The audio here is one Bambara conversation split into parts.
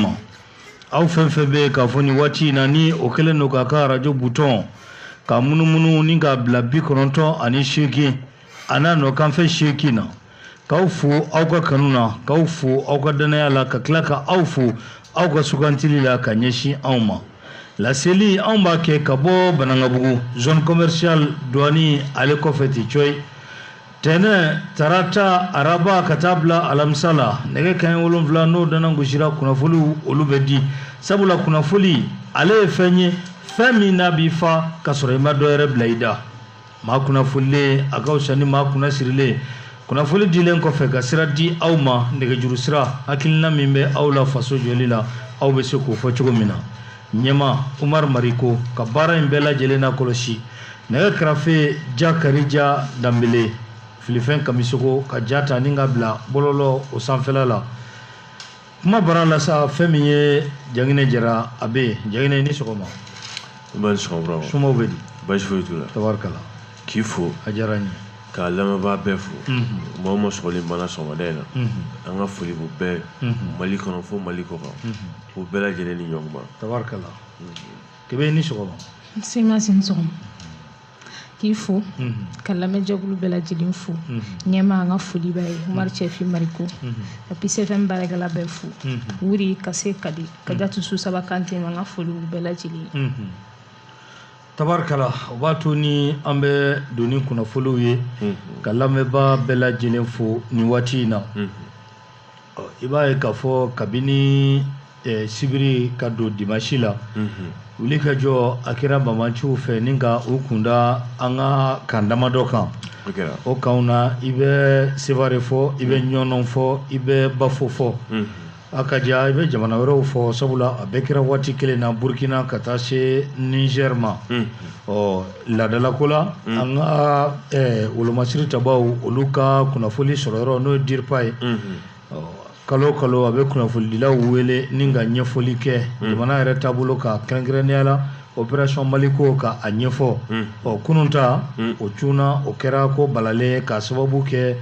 ma aw fɛn fɛn bɛ yen k'a fɔ nin waati in na ni o kɛlen don k'a ka arajo butɔn ka munumunu ni k'a bila bi kɔnɔntɔn ani seegin a n'a nɔkanfɛ seegin na k'aw fo aw ka kanu na k'aw fo aw ka dannaya la ka tila ka aw fo aw ka sugantili la ka ɲɛsin anw ma laseli anw b'a kɛ ka bɔ banangabugu zone commerciale douane ale kɔfɛ ten coyi tɛnɛ tarata araba ka taa bila alamisa la nɛgɛ kanɲɛ wolonfila n'o dana gosira kunnafoliw olu bɛ di sabula kunnafoli ale ye fɛn ye fɛn min n'a b'i fa ka sɔrɔ i ma dɔ yɛrɛ bila i da maa kunnafolilen a ka fisa ni maa kunnasirilen kunnafoli dilen kɔfɛ ka sira di aw ma nɛgɛjuru sira hakilina min bɛ aw la faso jɔli la aw bɛ se k'o fɔ cogo min na ɲɛma umar mariko ka baara in bɛɛ lajɛlen na kɔlɔsi nɛgɛ kɛrɛfɛ jakarija danbele filifɛn kamisogo ka ja ta ni ka bila bɔlɔlɔ o sanfɛla la kuma bara la sa fɛn min ye janginɛ jara a bɛ yen janginɛ ni sɔgɔma somaw bɛ di basi foyi t'u la tabarikala k'i fo a diyara n ye k'a lamɛnbaa bɛɛ fo maa o maa sɔgɔlen b'an na sɔgɔmada in na an ka foli b'u bɛɛ mali kɔnɔ fo mali kɔ kan u bɛɛ lajɛlen ni ɲɔgɔnba tabarikala kebe ni sɔgɔma semasi ni sɔgɔma k'i fo ka lamɛnjɛkulu bɛɛ lajɛlen fo ɲɛma an ka foli b'a ye umar cɛfi mariko ka peace fm baarakɛla bɛɛ fo wuri ka se kadi kajatu susaba kante an ka foli bɛɛ lajɛlen ye tabarikala o b'a to ni an bɛ don ni kunnafoliw ye ka lamɛnbaa bɛɛ lajɛlen fo nin waati in na i b'a ye k'a fɔ kabini sibiri ka don dimasi la wuli ka jɔ a kɛra banbaanciw fɛ ni ka u kunda an ka kan damadɔ kan o kanw na i bɛ sevare fɔ i bɛ ɲɔnɔn fɔ i bɛ bafo fɔ A ka ca i bɛ jamana wɛrɛw fɔ sabula a bɛɛ kɛra waati kelen na burukina ka taa se nizɛri ma ɔ laadalako la an ka wolomasiri tabaw olu ka kunnafoli sɔrɔ yɔrɔ n'o ye dirpa ye kalo kalo a bɛ kunnafolidilaw wele ni ka ɲɛfɔli kɛ jamana yɛrɛ taabolo kan kɛrɛnkɛrɛnnenya la opération maliko ka a ɲɛfɔ ɔ kunun ta o cunna o kɛra ko balalen k'a sababu kɛ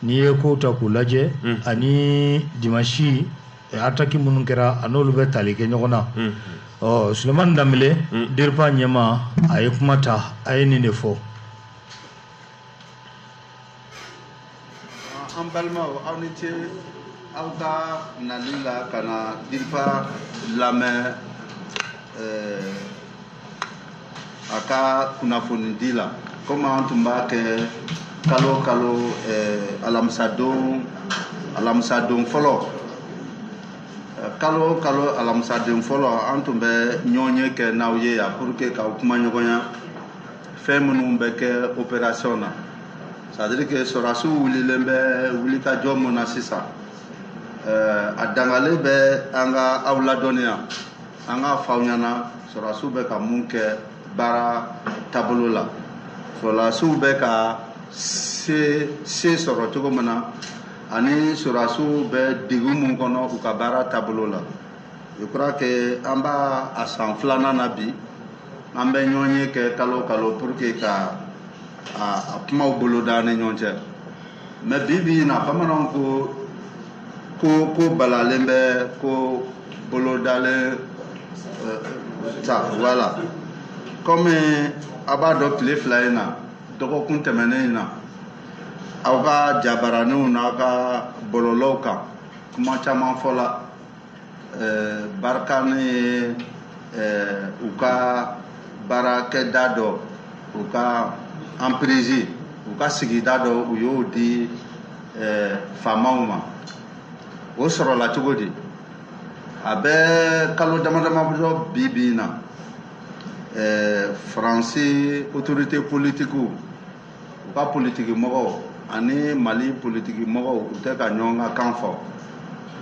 n'i ye kow ta k'u lajɛ ani dimansi ataki minnu kɛra a n'olu bɛ tali kɛ ɲɔgɔn na ɔ sulemani danbele dirpa ɲɛmaa a ye kuma ta a ye nin de fɔ an balimaw aw ni ce aw ka nali la ka na dirpa lamɛn a ka kunnafonidi la komi an tun b'a kɛ kalo o kalo eh, alamisadon alamisadon fɔlɔ eh, kalo o kalo alamisadon fɔlɔ an tun bɛ ɲɔgɔnye kɛ n'aw ye yan pour que k'aw kumaɲɔgɔnya fɛn minnu bɛ kɛ opération na c'est à dire que sɔrɔdasiw wulilen bɛ wulikajɔ mun na sisan eh, a dangalen bɛ an ka aw ladɔnniya an k'a fɔ aw ɲɛna sɔrɔdasiw bɛ ka mun kɛ baara taabolo la sɔrɔdasiw bɛ ka se se sɔrɔ cogo min na ani sɔrɔdasiw bɛ degun mun kɔnɔ u ka baara taabolo la je crois que an b'a san filanan na bi an bɛ ɲɔgɔnye kɛ kalo kalo pour que ka a kumaw boloda an ni ɲɔgɔn cɛ mais bi bi in na bamananw ko ko ko balalen bɛ ko bolodalen euh, ta voilà comme a b'a dɔn tile fila in na dɔgɔkun tɛmɛnen in na aw ka jabaraninw n'aw ka bɔlɔlɔw kan kuma caman fɔla barikani ye u ka baarakɛda dɔ u ka emprise u ka sigida dɔ u y'o di faamaw ma o sɔrɔla cogo di a bɛ kalo dama dama dɔ bi bi in na faransi autorités politiques u ka politiki mɔgɔw ani mali politiki mɔgɔw u tɛ ka ɲɔgɔn ka kan fɔ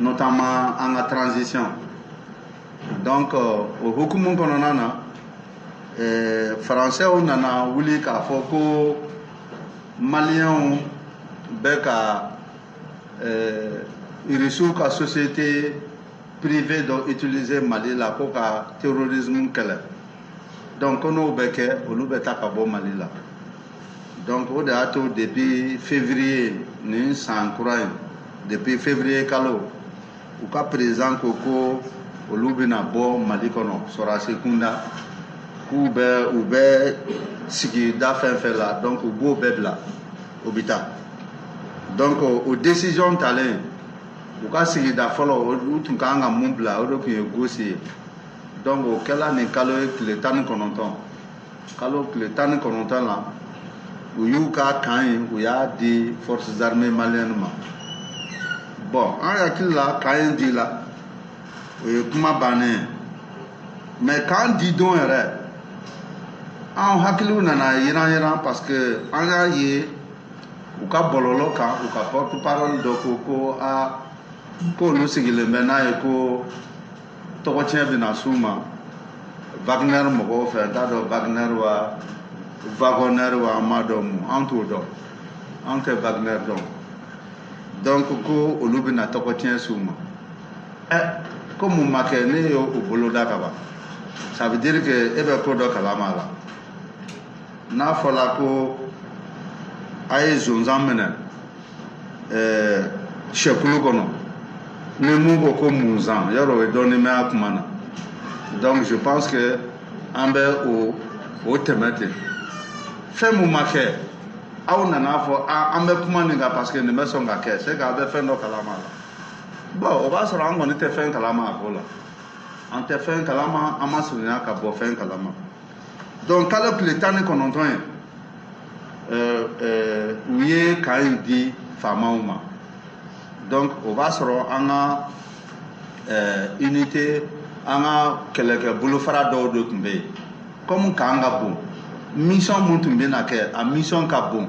notamment an ka transition donc euh, o hukumu kɔnɔna na eh, faransɛw nana wuli k'a fɔ ko maliyɛnw bɛ ka eh, irisiw ka société privée dɔ utiliser mali la ko ka terrorisme kɛlɛ donc ko n'o bɛ kɛ olu bɛ taa ka bɔ mali la donc o de y'a to depuis février nin san kura in depuis février kalo u ka président ko ko olu bɛna bɔ mali kɔnɔ sɔrɔdasi kunda k'u bɛ u bɛ sigida fɛn fɛn la donc u b'o bɛɛ bila u bɛ taa donc o décision talen u ka sigida fɔlɔ u tun ka kan ka mun bila o de tun ye gosi ye donc o kɛla nin kalo in tile tan ni kɔnɔntɔn kalo tile tan ni kɔnɔntɔn na u y'u ka camp in u y'a di forces armées maliennes ma bon an hakili la camp in dila o ye kuma bannen ye mais camp di don yɛrɛ an hakiliw nana yiran yiran parce que an y'a ye u ka bɔlɔlɔ kan u ka porte parole dɔ ko ko a k'olu sigilen bɛ n'a ye ko tɔgɔ tiɲɛ bɛ na s'u ma Wagner mɔgɔw fɛ n t'a dɔn Wagner wa Wagner wa an m'a dɔn mun an t'o dɔn an tɛ Wagner dɔn donc ko olu bɛna tɔgɔ tiɲɛ s'u ma ɛ eh, ko mun ma kɛ ne y'o boloda ka ban ça veut dire que e bɛ ko dɔ kalama a la n'a fɔla ko a ye zonzan minɛ ɛɛ sɛkulu kɔnɔ ni mun ko ko munzan yɔrɔ o ye dɔɔnin mɛn a kuma na donc je pense que an bɛ o o tɛmɛ ten fɛn mun ma kɛ aw nan'a fɔ an bɛ kuma nin kan parce que nin bɛ sɔn ka kɛ c'est que a bɛ fɛn dɔ kalama la bon o b'a sɔrɔ an kɔni tɛ fɛn kalama a ko la an tɛ fɛn kalama an ma surunya ka bɔ fɛn kalama donc kalo tile tan ni kɔnɔntɔn ye euh, euh, u ye kan in di faamaw ma donc o b'a sɔrɔ an ka euh, unité an ka kɛlɛkɛ bolofara dɔw de tun bɛ yen kɔmi kan ka bon mission mun tun bɛna kɛ a mission ka bon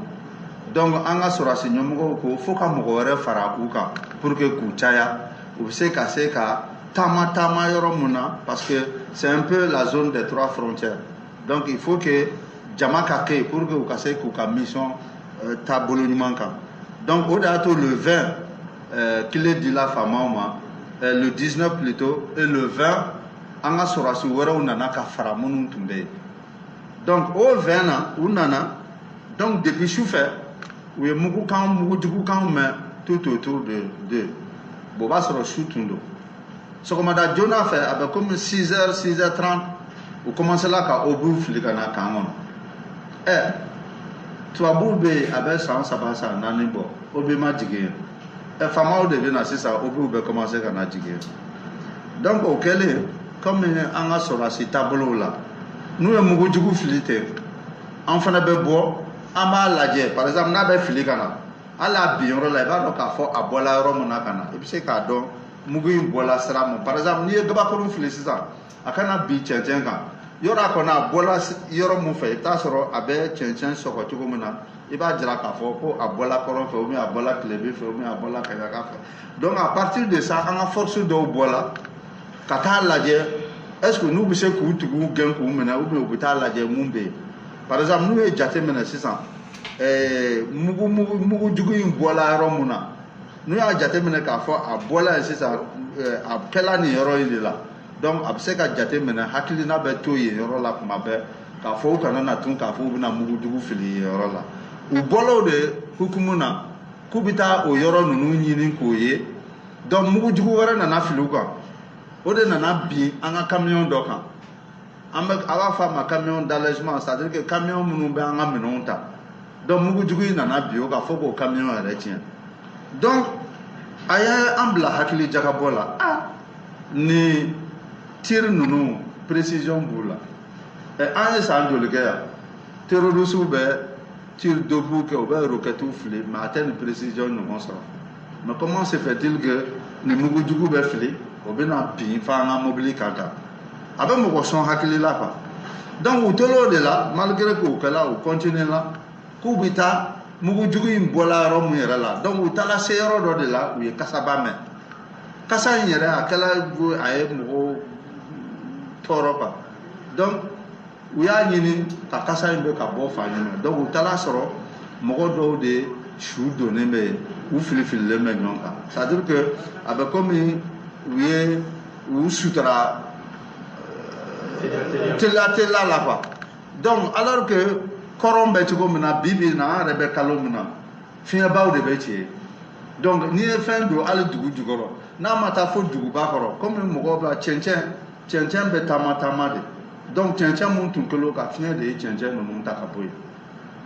donc an ka sɔrɔdasi ɲɛmɔgɔw ko fo ka mɔgɔ wɛrɛ fara u kan pour que k'u caya u bɛ se ka se ka taama taama yɔrɔ mun na parce que c'est un peu la zone des trois frontières donc il faut que jama ka kɛ yen pour que u ka se k'u ka mission euh, taabolo ɲuman kan donc o de y'a to le 20 euh, kile dila faamaw ma euh, le 19 plutôt et le 20 an ka sɔrɔdasi wɛrɛw nana ka fara minnu tun bɛ yen donc o 20 na u nana donc depuis sufɛ u ye mugukan mugujugukan mɛn tout autour de de bon o b'a sɔrɔ su tun don sɔgɔmada joona fɛ a bɛ komi 6 heures 6 heures 30 u commencela ka obus fili ka na kan kɔnɔ ɛ tubabuw bɛ yen a bɛ san saba san naani bɔ obus ma jigin yen ɛ faamaw de bɛ na sisan obusw bɛ commencer ka na jigin yen donc o kɛlen komi an ka sɔrɔdasi taabolow la n'u ye mugujugu fili ten an fana bɛ bɔ an b'a lajɛ par exemple n'a bɛ fili ka na hali a bin yɔrɔ la i b'a dɔn k'a fɔ a bɔla yɔrɔ min na ka na i bɛ se k'a dɔn mugu in bɔla sira min par exemple n'i ye gabakurun fili sisan a ka na bin cɛncɛn kan yɔrɔ a kɔnɔ a bɔla yɔrɔ min fɛ i bɛ t'a sɔrɔ a bɛ cɛncɛn sɔgɔ cogo min na i b'a jira k'a fɔ ko a bɔla kɔrɔn fɛ ou bien a bɔla tilebin fɛ ou bien a bɔla kaɲaka fɛ donc à partir de ça an ka force dɔw bɔla ka taa lajɛ est-ce que n'u bɛ se k'u tigiw gɛn k'u minɛ ou bien u bɛ taa lajɛ mun bɛ yen par exemple n'u ye jate minɛ sisan ɛɛ mugu mugu mugujugu in bɔla yɔrɔ mun na n'u y'a jate minɛ k'a fɔ a bɔla yen sisan ɛɛ a kɛla nin yɔrɔ in de la donc a bɛ se ka jate minɛ hakilina bɛ to yen yɔrɔ la kuma bɛɛ k'a fɔ u kana na tun k'a fɔ u bɛna mugujugu fili yen yɔrɔ la u bɔl'o de hukumu na k'u bɛ taa o yɔrɔ ninnu ɲini k'o ye donc mugujugu wɛrɛ nana fili u kan o de nana bin an ka kamiyɔn dɔ kan an bɛ a b'a fɔ a ma camion d'allègement c'est à dire que kamiyɔn minnu bɛ an ka minɛnw ta donc mugujugu in nana bin o kan fo k'o kamiyɔn yɛrɛ tiɲɛ donc a ye an bila hakili jagabɔ la a nin tir ninnu précision b'u la ɛ an ye san joli kɛ yan terorisiw bɛ tir d'obus kɛ u bɛ rokɛtiw fili mais a tɛ nin précision ɲɔgɔn sɔrɔ mais comment se fait-il que nin mugujugu bɛ fili o bɛna bin f'an ka mobili kan quoi a bɛ mɔgɔ sɔn hakili la quoi donc u tor'o de la malgré k'o kɛla u continuer la k'u bɛ taa mugujugu in bɔla yɔrɔ mun yɛrɛ la donc u taara se yɔrɔ dɔ de la u ye kasaba mɛn kasa in yɛrɛ a kɛla a ye mɔgɔw tɔɔrɔ quoi donc u y'a ɲini ka kasa in bɛ ka bɔ fan jumɛn donc u taara sɔrɔ mɔgɔ dɔw de su donnen bɛ yen u filifililen bɛ ɲɔgɔn kan c'est à dire que a bɛ komi u ye u sutura euh, teliya teliya la quoi donc alors que kɔrɔn bɛ cogo min na bi bi in na an yɛrɛ bɛ kalo min na fiɲɛbaw de bɛ ci donc n'i ye fɛn don hali dugu jukɔrɔ n'a ma taa fo duguba kɔrɔ komi mɔgɔw bɛ cɛncɛn cɛncɛn bɛ taama taama de donc cɛncɛn minnu tun kɛlen u kan fiɲɛ de ye cɛncɛn ninnu ta ka bɔ yen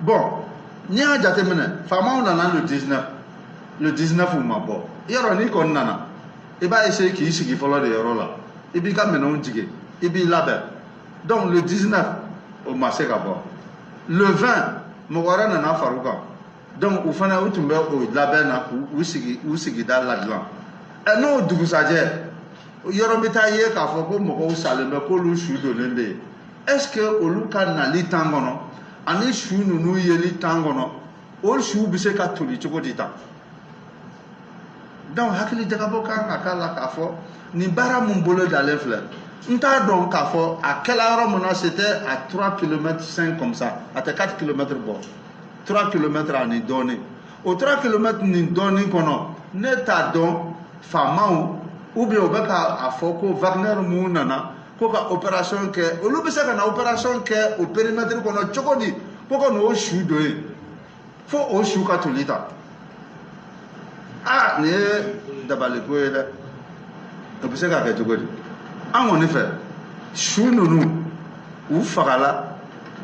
bon n'i y'a jateminɛ faamaw nana le 19 le 19 u ma bɔ yɔrɔ n'i kɔni nana i b'a essayer k'i sigi fɔlɔ de yɔrɔ la i b'i ka minɛnw jigin i b'i labɛn donc le 19 u ma se ka bɔ le 20 mɔgɔ wɛrɛ nana fara u kan donc u fana u tun bɛ o labɛn na k'u sigi u sigida ladilan ɛ n'o dugusajɛ yɔrɔ bɛ taa ye k'a fɔ ko mɔgɔw salen bɛ k'olu su donnen bɛ yen est ce que olu ka nali temps kɔnɔ ani su ninnu yeli temps kɔnɔ o suw bɛ se ka toli cogo di tan donc hakili jagabɔ kan ka k'a la k'a fɔ nin baara min bolodalen filɛ n t'a dɔn k'a fɔ a kɛla yɔrɔ min na c'était à 3 km 5 comme ça a tɛ 4 km bɔ 3 km ani dɔɔnin o 3 km ni dɔɔnin kɔnɔ ne t'a dɔn faamaw ou bien u bɛ k'a fɔ ko Wagner min nana ko ka opération kɛ olu bɛ se ka na opération kɛ o périmètre kɔnɔ cogo di ko ka n'o su don yen fo o su ka toli tan aa nin ye dabaliko ye dɛ o bɛ se ka kɛ cogo di an kɔni fɛ su ninnu u fagala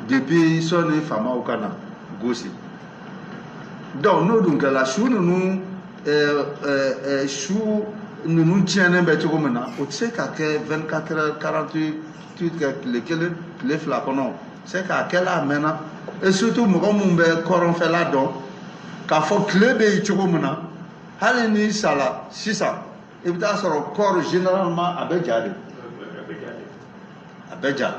depuis sɔnni faamaw ka na gosi donc n'o dun kɛra su ninnu su ninnu tiɲɛnen bɛ cogo min na o tɛ se ka kɛ 24 heures 48 kɛ tile kelen tile fila kɔnɔ c'est qu'a kɛla a mɛnna et surtout mɔgɔ minnu bɛ kɔrɔnfɛla dɔn k'a fɔ tile bɛ yen cogo min na hali n'i sala sisan i bɛ taa sɔrɔ corps généralement a bɛ ja de a bɛ ja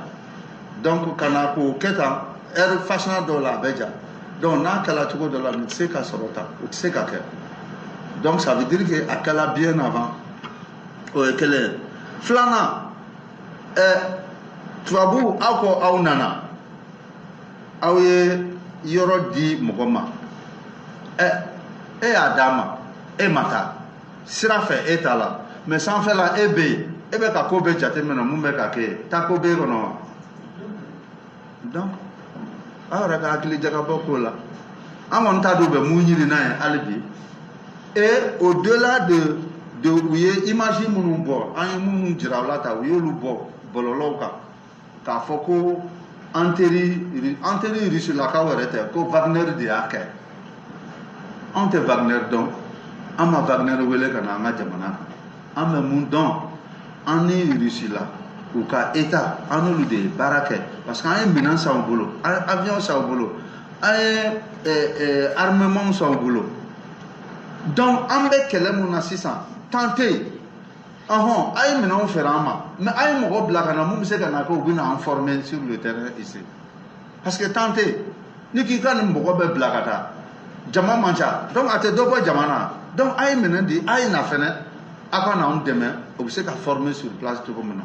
donc ka na k'o kɛ tan ɛri fasina dɔw la a bɛ ja donc n'a kɛla cogo dɔ la nin tɛ se ka sɔrɔ tan o tɛ se ka kɛ donc ça veut dire que a kɛla bien avant o ye kelen ye filanan ɛɛ tubabuw aw ko aw nana aw ye yɔrɔ di mɔgɔ ma ɛ e y'a d'a ma e ma taa sira fɛ e t'a la mais sanfɛla e bɛ yen e bɛ ka ko bɛɛ jateminɛ mun bɛ ka kɛ yen taa ko b'e kɔnɔ wa donc aw yɛrɛ ka hakili jagabɔ k'o la an kɔni t'a dɔn u bɛ mun ɲini n'a ye hali bi et au delà de de u ye image minnu bɔ an ye minnu jira aw la tan u y'olu bɔ bɔlɔlɔw kan k'a fɔ ko an teri an teri rusilakaw yɛrɛ tɛ ko wagner de y'a kɛ anw tɛ wagner dɔn an ma wagner wele ka na an ka jamana kan an bɛ mun dɔn an ni rusila u ka état an n'olu de ye baara kɛ parce que an ye minɛn san u bolo an ye avion san u bolo an ye armement san u bolo donc an bɛ kɛlɛ mun na sisan temps tɛ yen ɔhɔn a ye minɛnw feere an ma mais a ye mɔgɔ bila ka na mun bɛ se ka na kɛ u bɛ na an former sur le terrain ici parce que temps tɛ yen n'i k'i ka nin mɔgɔ bɛɛ bila ka taa jama man ca donc a tɛ dɔ bɔ jama na donc a ye minɛn di a ye na fɛnɛ a ka na anw dɛmɛ o bɛ se ka former sur place cogo min na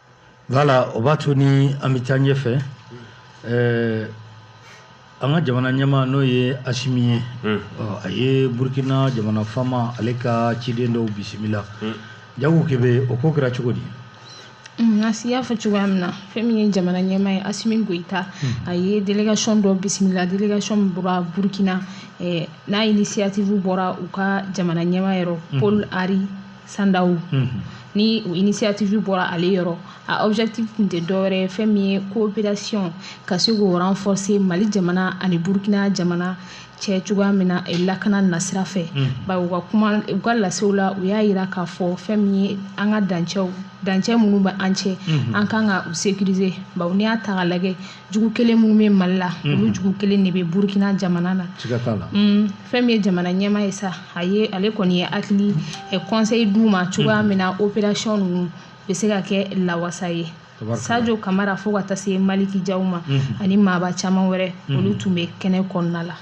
Voilà o b'a to ni an bɛ taa ɲɛfɛ an ka jamana ɲɛmaa n'o ye asimi ye a ye burukina jamana faama ale ka ciden dɔw bisimila jago kebe o ko kɛra cogo di asi y'a fɔ cogoya min na fɛn min ye jamana ɲɛmaa ye asimi goïta a ye délégation dɔ bisimila délégation min bɔra burukina n'a initiative bɔra u ka jamana ɲɛmaa yɔrɔ paul henri sandao ni o initiative bɔra ale yɔrɔ a objectif tun tɛ dɔwɛrɛ ye fɛn min ye coopération ka se k'o renforcer mali jamana ani burkina jamana cɛ cogoya min na lakana nasira fɛ bari u ka kuma u ka lasew la u y'a yira k'a fɔ fɛn min ye an ka dancɛw dancɛ minnu bɛ an cɛ an kan ka u sécuriser bawo n'i y'a ta ka lajɛ jugu kelen minnu bɛ mali la mhm. olu jugu kelen de bɛ burkina jamana na mm, fɛn min ye jamana ɲɛmaa ye sa a ye ale kɔni ye hakili eh, conseil d'u ma cogoya mhm. min na opération ninnu bɛ se ka kɛ lawasa ye sajo kamara fo ka taa se maliki jaw ma mhm. ani maaba caman wɛrɛ olu tun bɛ kɛnɛ kɔnɔna la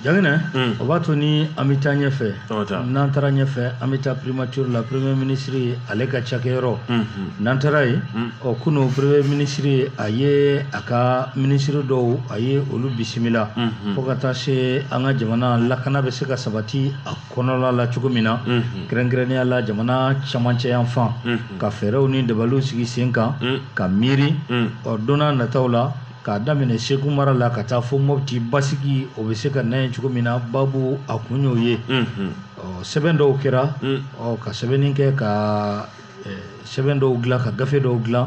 Janginɛ unn o b'a to ni an be taa ɲɛfɛ siga t'a la n'an taara ɲɛfɛ an be taa primature la premier ministre ale ka cakɛyɔrɔ unhun n'an taara yen un ɔ kunun premier ministre a ye a ka ministre dɔw a ye olu bisimila unhun fo ka taa se an ka jamana lakana be se ka sabati a kɔnɔla la cogo min na unhun kɛrɛnkɛrɛnnenya la jamana camancɛyanfan unhun ka fɛɛrɛw ni dabaliw sigi sen kan un ka miiri un ɔ don n'a nataw la k'a daminɛ segu mara la ka taa fo mopti basigi o bɛ se ka na yen cogo min na baabu a kun y'o ye sɛbɛn dɔw kɛra ka sɛbɛnni kɛ ka sɛbɛn dɔw dilan ka gafe dɔw dilan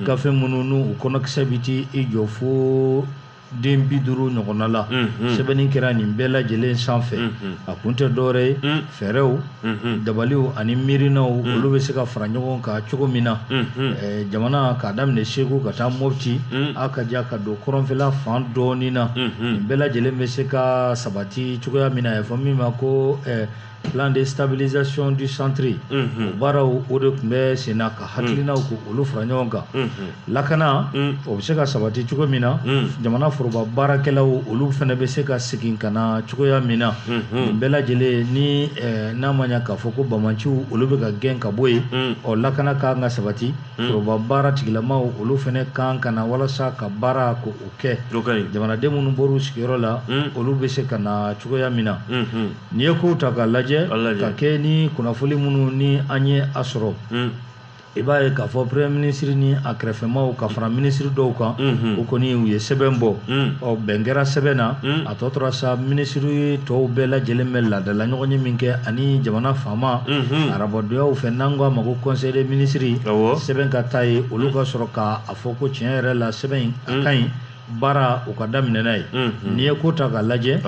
gafe minnu n'u kɔnɔkisɛ bɛ t'i jɔ fo den bi duuru ɲɔgɔnna la sɛbɛnni kɛra nin bɛɛ lajɛlen sanfɛ a kun tɛ dɔwɛrɛ ye fɛɛrɛw dabaliw ani miirinaw olu bɛ se ka fara ɲɔgɔn kan cogo min na jamana k'a daminɛ segu ka taa mopti a ka ja ka don kɔrɔnfɛla fan dɔɔnin na nin bɛɛ lajɛlen bɛ se ka sabati cogoya min na a bɛ fɔ min ma ko plan de stabilisation du centre o baaraw o de tun bɛ sen na ka hakilinaw ko olu fara ɲɔgɔn kan Lakana o bɛ se ka sabati cogo min na jamana foroba baarakɛlaw olu fana bɛ se ka segin ka na cogoya min na nin bɛɛ lajɛlen ni n'a ma k'a fɔ ko banmanciw olu bɛ ka gɛn ka bɔ yen ɔ lakana ka kan ka sabati foroba baara tigilamaw olu fana kan ka na walasa ka baara ko o kɛ jamanaden minnu bɔr'u sigiyɔrɔ la olu bɛ se ka na cogoya min na n'i ye kow ta ka lajɛ ka kɛ ni kunnafoni minnu ni an ye a sɔrɔ i b'a ye k'a fɔ premier ministre ni a kɛrɛfɛmaw ka fara ministre dɔw kan o kɔni u ye sɛbɛn bɔ ɔ bɛn kɛra sɛbɛn na a tɔ tora sa ministre tɔw bɛɛ lajɛlen bɛ laadala ɲɔgɔnye min kɛ ani jamana faama arabadonyaw fɛ n'an ko a ma ko conseil des ministres sɛbɛn ka taa yen olu ka sɔrɔ k'a fɔ ko tiɲɛ yɛrɛ la sɛbɛn in a ka ɲi baara u ka daminɛ n'a ye n'i ye ko ta k'a lajɛ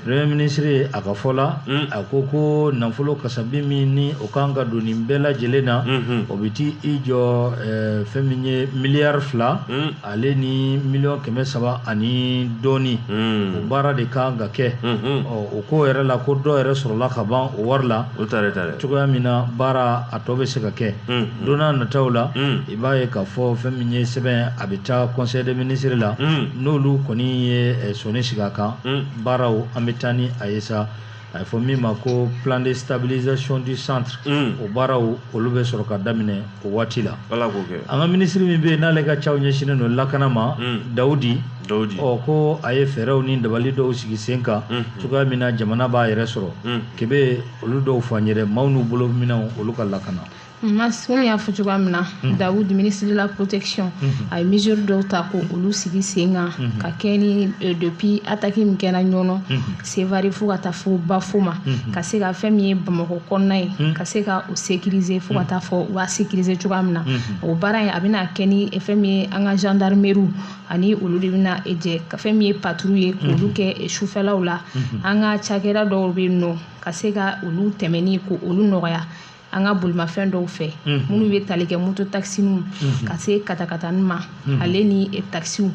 premier ministre a ka fɔ la a ko ko nafolo kasabi min ni o kan ka don nin bɛɛ lajɛlen na o bɛ t'i jɔ fɛn min ye miliyari fila ale ni miliyɔn kɛmɛ saba ani dɔɔnin o baara de kan ka kɛ ɔ o ko yɛrɛ la ko dɔ yɛrɛ sɔrɔla ka ban o wari la cogoya min na baara a tɔ bɛ se ka kɛ don n'a nataw la i b'a ye k'a fɔ fɛn min ye sɛbɛn a bɛ taa conseil des ministres la n'olu kɔni ye sɔnni sigi a kan baaraw an bɛ taa ni a ye sa a ye fɔ min ma ko plan de stabilisation du centre o baaraw olu bɛ sɔrɔ ka daminɛ o waati la an ka minisiri min bɛ yen n'ale ka caw ɲɛsinnen don lakana ma dawudi ɔ ko a ye fɛɛrɛw ni dabali dɔw sigi sen kan cogoya min na jamana b'a yɛrɛ sɔrɔ ke bɛ olu dɔw f'an yɛrɛ maaw n'u bolo minɛnw olu ka lakana komi y'a fɔ cogoya min na mhm. dawud ministre de la protection mhm. a ye mesure dɔw ta ko olu sigi sen kan mhm. ka kɛ ni e, depuis attaque min kɛra ɲɔnɔ sevare fo ka taa fo bafo ma ka se ka fɛn min ye bamakɔ kɔnɔna ye ka se ka o sécuriser fo ka taa fɔ u b'a sécuriser cogoya min na o baara in a bɛna kɛ ni e, fɛn min ye an ka gendarmeriw ani olu de bɛna e, jɛ ka fɛn min ye patrouille ye k'olu kɛ sufɛlaw la an ka cakɛda dɔw bɛ yen nɔ ka se ka olu tɛmɛni ko olu nɔgɔya an ka bolimafɛn dɔw fɛ minnu bɛ tali kɛ moto takisininw ka se katakatani ma ale ni takisiw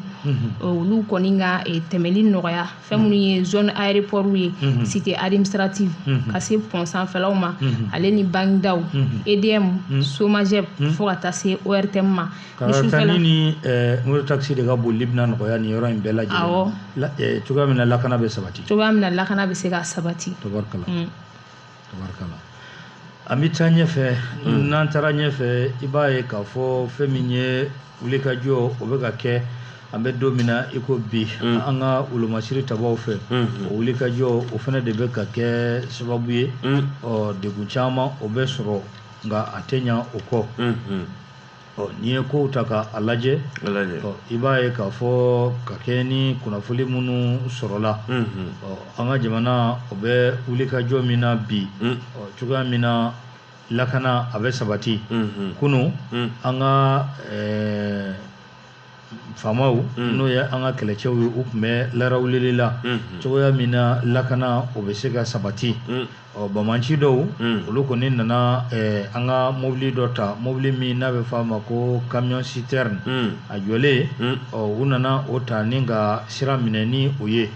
olu kɔni ka tɛmɛli nɔgɔya fɛn minnu ye zone aéroport ye cité administrative ka se pont sanfɛlaw ma ale ni banki daw EDM SOMAGEP fo ka taa se ORTM ma katakatani ni moto takisi de ka bolili bɛna nɔgɔya nin yɔrɔ in bɛɛ lajɛlen awɔ cogoya min na lakana bɛ sabati cogoya min na lakana bɛ se ka sabati tabarikala an bɛ taa ɲɛfɛ mm. n'an taara ɲɛfɛ i b'a ye k'a fɔ fɛn min ye wulikajɔ o bɛ ka kɛ an bɛ don min na i ko bi mm. an ka wolomasiri tabaw fɛ mm-hmm. o wulikajɔ o fana de bɛ ka kɛ sababu ye mm. ɔ degun caman o bɛ sɔrɔ nka a tɛ ɲa o kɔ mm-hmm. ɔ n'i ye kow ta ka a lajɛ ɔ i b'a ye k'a fɔ ka kɛ ni kunnafoni minnu sɔrɔla ɔ an ka jamana o bɛ wulikajɔ min na bi ɔ cogoya min na lakana a bɛ sabati kunun an ka faamaw n'o ye an ka kɛlɛcɛw ye u tun bɛ larawulili la cogoya min na lakana o bɛ se ka sabati ɔ banbaanci dɔw olu kɔni nana an ka mɔbili dɔ ta mɔbili min n'a bɛ f'a ma ko camion citerne a jɔlen ɔ u nana o ta ni ka sira minɛ ni o ye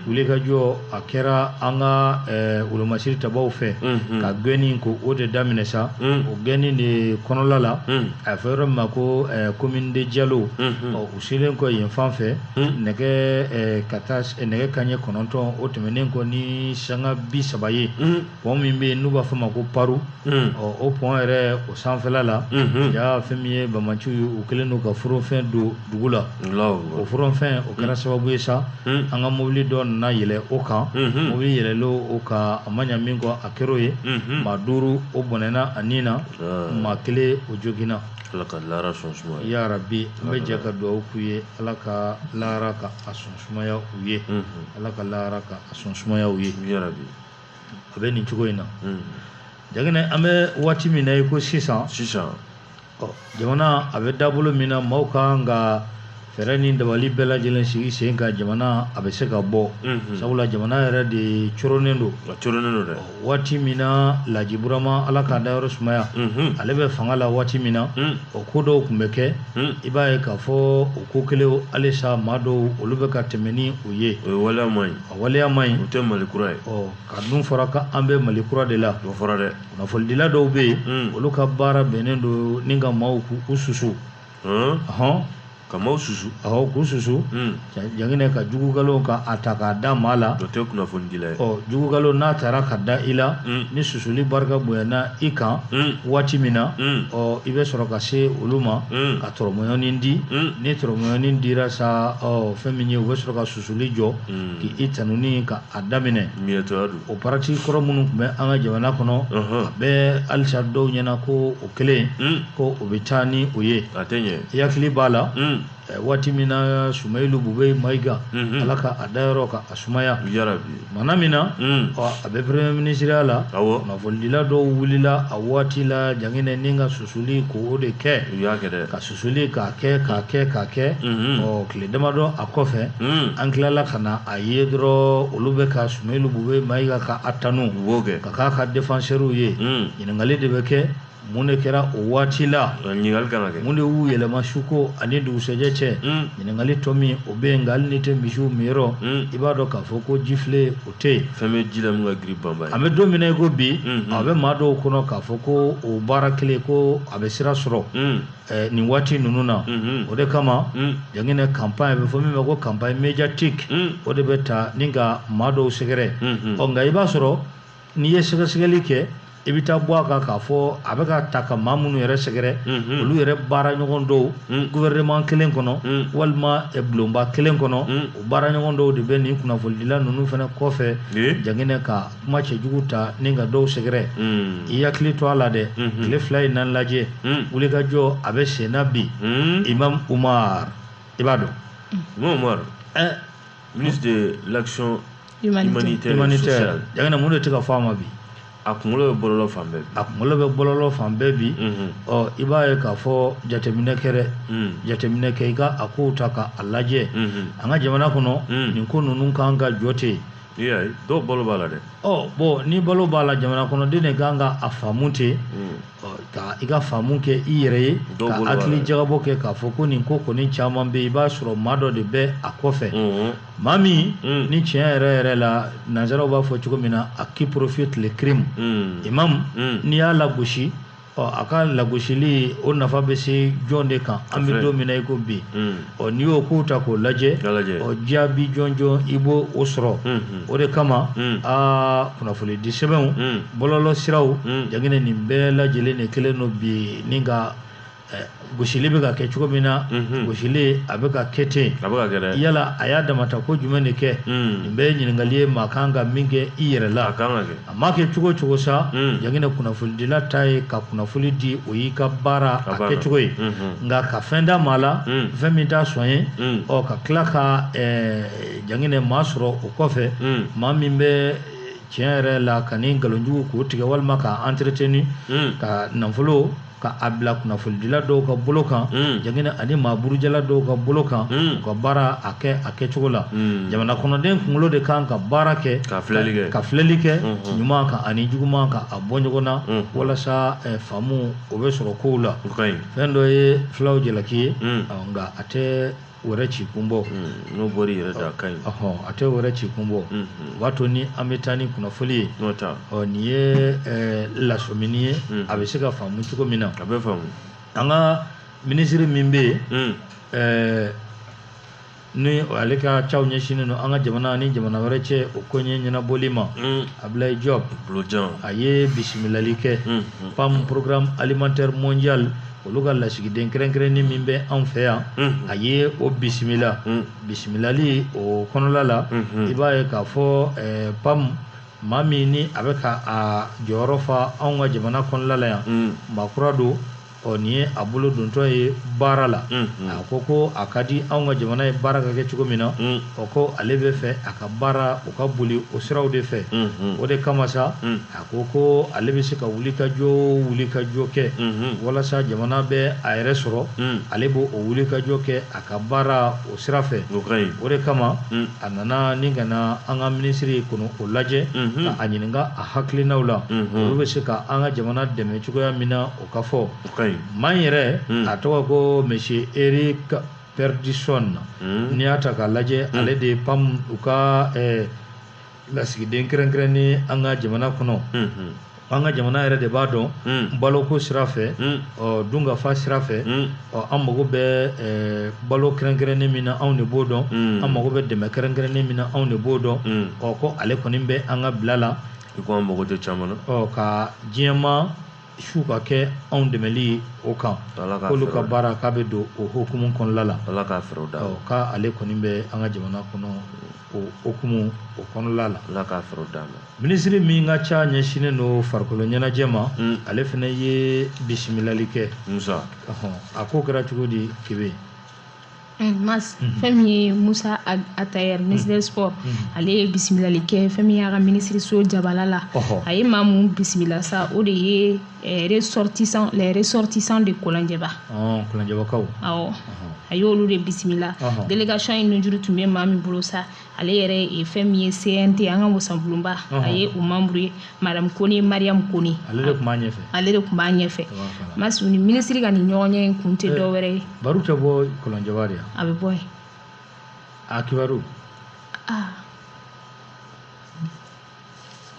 wulikajɔ a kɛra an ka wolomasiri tabaw fɛ ka gɛnni ko o de daminɛ sa o gɛnni de kɔnɔla la a fɔ yɔrɔ min ma ko commune de Diallo ɔ u selen kɔ yen fan fɛ nɛgɛ ka taa nɛgɛ kanɲɛ kɔnɔntɔn o tɛmɛnen kɔ ni sanga bi saba ye pɔn min bɛ yen n'u b'a fɔ ma ko paru hmm. o pɔn yɛrɛ o sanfɛla la hmm. ja fɛn min ye bamaciw ye u kɛlen don ka forofɛn don dugu la o forofɛn o kɛra hmm. sababu ye sa an ka mobili dɔ nana yɛlɛ o kan mobili yɛlɛlen o kan a ma ɲa min kɔ a kɛra o ye maa duuru o bɔnɛna a ni na ah. maa kelen o joginna ala ka laara sɔn sumaya ya rabi n bɛ jɛ ka dugawu k'u ye ala ka laara ka a sɔn sumaya u ye ala ka laara ka a sɔn sumaya u ye ya rabi a bɛ nin cogo in na Jaginɛ an bɛ waati min na i ko sisan jamana a bɛ dabolo min na maaw ka kan ka fɛɛrɛ ni dabali bɛɛ lajɛlen sigi sen kan jamana a bɛ se ka bɔ sabula jamana yɛrɛ de coronnen don dɛ waati min na Laji Burama ala k'a dayɔrɔ sumaya ale bɛ fanga la waati min na o ko dɔw tun bɛ kɛ i b'a ye k'a fɔ o ko kelen halisa maa dɔw olu bɛ ka tɛmɛ ni o ye o ye A waleya man ɲi o tɛ mali kura ye ka dun fɔra ko an bɛ mali kura de la o fɔra dɛ kunnafonidila dɔw bɛ yen olu ka baara bɛnnen don ni ka maaw k'u susu hɔn ka maaw susu aw k'u susu Jaginɛ ka jugu nkalon ka a ta k'a da maa la o tɛ kunnafonidila ye ɔ jugu nkalon n'a taara ka da i la ni susuli barika bonyana i kan waati min na ɔ i bɛ sɔrɔ ka se olu ma ka tɔrɔmɔɲɔnin di ni tɔrɔmɔɲɔnin dira sa fɛn min ye u bɛ sɔrɔ ka su susuli jɔ k'i tanuni ka a daminɛ o pratique kɔrɔ minnu tun bɛ an ka jamana kɔnɔ a bɛ halisa dɔw ɲɛna ko o kelen ko o bɛ taa ni o ye i hakili b'a la waati min na Sumayilu Bubɛyi Mayiga ala ka a dayɔrɔ ka a sumaya Tumana min na a bɛ premier minisiriya la kunnafonidila dɔw wulila a waati la Jaginɛ ni ka susuli ko o de kɛ ka susuli k'a kɛ k'a kɛ k'a kɛ ɔ tile damadɔ a kɔfɛ an tilala ka na a ye dɔrɔn olu bɛ ka Sumayilu Bubɛyi Mayiga ka a tanu ka k'a ka défenseurw ye ɲininkali de bɛ kɛ mun de kɛra o waati la ɲininkali kana kɛ mun de y'u yɛlɛma suko ani dugusɛjɛ cɛ hmm. ɲininkali tɔ min o bɛ yen nka hali n'i tɛ misiw minyɔrɔ hmm. i b'a dɔn k'a fɔ ko jifilen o tɛ yen fɛn bɛ ji la min ka girin banba ye an bɛ don min na i ko bi hmm, a bɛ maa dɔw kɔnɔ k'a fɔ ko o baara kelen ko a bɛ sira sɔrɔ eh, nin waati ninnu na o de kama Jaginɛ campagne bɛ fɔ min ma ko campagne médiatique o de bɛ ta ni ka maa dɔw sɛgɛrɛ ɔ nka i b'a sɔrɔ n'i ye sɛgɛsɛgɛli kɛ i bɛ taa bɔ a kan k'a fɔ a bɛ ka taa ka maa minnu yɛrɛ sɛgɛrɛ olu yɛrɛ baara ɲɔgɔn dɔw gouvernement kelen kɔnɔ walima bulonba kelen kɔnɔ o baara ɲɔgɔn dɔw de bɛ nin kunnafonidila ninnu fana kɔfɛ jaginɛ ka kuma cɛjugu ta ni ka dɔw sɛgɛrɛ i hakili to a la dɛ tile fila in na lajɛ wulikajɔ a bɛ senna bi Imam Umar i b'a dɔn Ministre de l'action humanitaire, et sociale jaginɛ mun de tɛ ka fɔ a ma bi a kunkolo bɛ bɔlɔlɔ fan bɛɛ a kunkolo bɛ bɔlɔlɔ fan bɛɛ bi ɔ i b'a ye k'a fɔ jateminɛ kɛ dɛ jateminɛ kɛ i ka a kow ta ka a lajɛ an ka jamana kɔnɔ nin ko ninnu kan ka jɔ ten i y'a ye dɔw balo b'a la dɛ ɔ bon ni balo b'a la jamana kɔnɔden de kan ka a faamu ten ka i ka faamu kɛ i yɛrɛ ye ka hakili jagabɔ kɛ k'a fɔ ko nin ko kɔni caman bɛ i b'a sɔrɔ maa dɔ de bɛ a kɔfɛ maa min ni tiɲɛ yɛrɛ yɛrɛ la nanzaraw b'a fɔ cogo min na à qui profite le crime imam n'i y'a lagosi ɔ a ka lagosili o nafa bɛ se jɔn de kan an bɛ don min na i ko bi ɔ n'i y'o kow ta k'o lajɛ jaabi jɔnjɔn i b'o o sɔrɔ o de kama aa kunnafoni di sɛbɛnw bɔlɔlɔ siraw jaginɛ nin bɛɛ lajɛlen de kelen don bi ni ka gosili bɛ ka kɛ cogo min na gosili a bɛ ka kɛ ten yala a y'a damata ko jumɛn de kɛ nin bɛɛ ye ɲininkali ye maa kan ka min kɛ i yɛrɛ la A ma kɛ cogo cogo sa jaginɛ kunnafonidila ta ye ka kunnafoni di o y'i ka baara a kɛcogo ye nka ka fɛn da maa la fɛn min t'a sɔn ye ɔ ka tila ka jaginɛ maa sɔrɔ o kɔfɛ maa min bɛ tiɲɛ yɛrɛ la ka ni nkalonjugu k'o tigɛ walima k'a entretenu ka nafolo ka a bila kunnafonidila dɔw ka bolo kan mm. jaginɛ ani maa burujala dɔw ka bolo kan mm. u ka baara a kɛ a kɛcogo la mm. jamana kɔnɔden kunkolo de kan ka baara kɛ ka filɛli kɛ ka filɛli kɛ mm-hmm. ɲuman kan ani juguman kan a bɔ ɲɔgɔn na mm-hmm. walasa eh, faamu o bɛ sɔrɔ kow la fɛn dɔ ye fulaw jalaki ye nka a tɛ wɛrɛ ci kun bɔ mm, n'o bɔr'i yɛrɛ da a ka ɲi a tɛ wɛrɛ ci kun bɔ mm-hmm. o b'a to ni an bɛ taa ni kunnafoli ye ɔ nin ye eh, lasɔmini ye mm-hmm. a bɛ se ka faamu cogo min na a bɛ faamu an ka minisiri min bɛ yen mm. eh, ni ale ka caw ɲɛsinnen don an ka jamana ni jamana wɛrɛ cɛ o koɲɛ ɲɛnabɔli ma mm. Ablaye Diop a ye bisimilali kɛ mm, PAM programme alimentaire mondial olu ka lasigiden kɛrɛnkɛrɛnnen min bɛ anw fɛ yan a ye o bisimila bisimilali o kɔnɔla la i b'a ye k'a fɔ PAM maa min ni a bɛ ka a jɔyɔrɔ fa anw ka jamana kɔnɔla la yan maa kura don ɔ nin ye a bolo dontɔ ye baara la a ko ko a ka di anw ka jamana ye baara ka kɛ cogo min na ɔ ko ale bɛ fɛ a ka baara o ka boli o siraw de fɛ o de kama sa O ko ale bɛ se ka wulikajɔ wulikajɔ kɛ walasa jamana bɛ a yɛrɛ sɔrɔ ale b'o wulikajɔ kɛ a ka baara o sira fɛ o de kama a nana ni ka na an ka minisiri kɔnɔ o lajɛ ka a ɲininka a hakilinaw la olu bɛ se ka an ka jamana dɛmɛ cogoya min na o ka fɔ maa in yɛrɛ a tɔgɔ ko monsieur Eric Perdison n'i y'a ta k'a lajɛ ale de ye PAM u ka lasigiden kɛrɛnkɛrɛnnen an ka jamana kɔnɔ an ka jamana yɛrɛ de b'a dɔn baloko sira fɛ dunkafa sira fɛ an mago bɛ balo kɛrɛnkɛrɛnnen min na anw de b'o dɔn an mago bɛ dɛmɛ kɛrɛnkɛrɛnnen min na anw de b'o dɔn ɔ ko ale kɔni bɛ an ka bila la i ko an mago tɛ caman na ka diɲɛma su ka kɛ anw dɛmɛli ye o kan k'olu ka baara k'a bɛ don o hukumu kɔnɔla la k'ale kɔni bɛ an ka jamana kɔnɔ o hukumu o kɔnɔla la ala k'a fɛɛrɛw d'a ma minisiri min ka ca ɲɛsinnen don farikolo ɲɛnajɛ ma mm. ale fana ye bisimilali kɛ musa a ko kɛra cogo di Kebe Mas mm-hmm. fɛn min ye Musa Atayɛr mm-hmm. ministre des sports mm-hmm. ale ye bisimilali kɛ fɛn min y'a ka minisiriso jabala la a ye maa mun bisimila sa o de ye Eh, ressortissant les ressortissants de Kolonjɛba. Ɔn ah, Kolonjɛbakaw. Awɔ. A y'olu de bisimila. Délégation in nunjuru tun bɛ maa min bolo sa ale yɛrɛ ye fɛn min ye CNT an ka wasabulonba a ye o membre ye madame Kone Mariam Kone. Ale de tun b'a ɲɛfɛ. Ale de tun b'a ɲɛfɛ. Masi u ni ministre ka nin ɲɔgɔnye in kun tɛ eh, dɔ wɛrɛ ye. Baro tɛ bɔ Kolonjɛba de ya. A bɛ bɔ yen. A kibaru. Aa. Ah.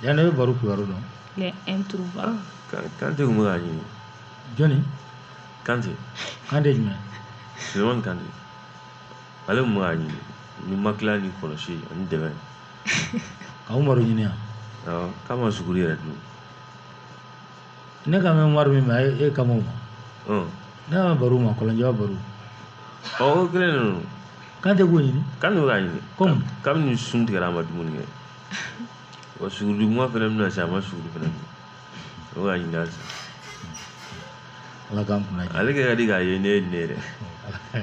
Yan ne bɛ baro kibaru dɔn Kante bɛ k'a ɲini jɔnni Kante jumɛn Sulemani Kante ale bɛ k'a ɲini ni ma tila ni kɔlɔsi ani dɛmɛ ka Umaru ɲini k'a ma suguri yɛrɛ dun ne ka mɛn Umaru min ma e kama ma ne ma baro ma Kolonjɛba baro ɔ Kante ɲini k'a ɲini kabini sun tigɛ a ma dumuni kɛ Wa suguri tuma fana bɛna na se a ma su fana o ka ɲin ala ka ale ka di k'a ye ne ye ne yɛrɛ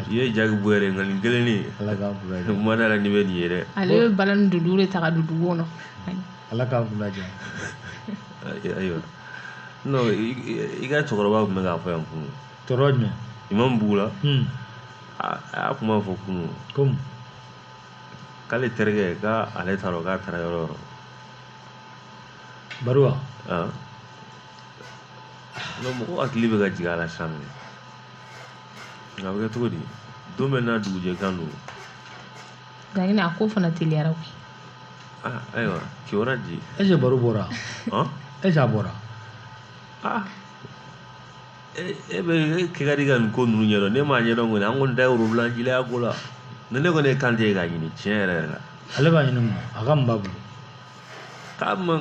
i ye ja bɔ yɛrɛ nka nin kelen ye ma da nin bɛ nin yɛrɛ ale bɛ bala ni dundun de ta ka don dugu kɔnɔ ala ka ayiwa i ka cɛkɔrɔba tun bɛ k'a fɔ yan kunun tɔɔrɔ jumɛn imamu bugu la a y'a kuma fɔ kunun k'ale terikɛ k'ale t'a dɔn k'a taara yɔrɔ o yɔrɔ baro wa non mɔgɔ hakili bɛ ka jigin a la sisan nɔ nka a bɛ kɛ cogo di don bɛ n'a dugujɛ kan don laɲini a ko fana teliyara koyi aa ayiwa kiwara di est-ce que baro bɔra est-ce que a bɔra aa Ee e bɛ kɛ ka di ka nin ko ninnu ɲɛdɔn ne m'a ɲɛdɔn kɔni an kɔni ta y'urulajelaya ko la ne ne kɔni ye kante ye k'a ɲini tiɲɛ yɛrɛ yɛrɛ la ale b'a ɲini a ka mun b'a bolo k'a ma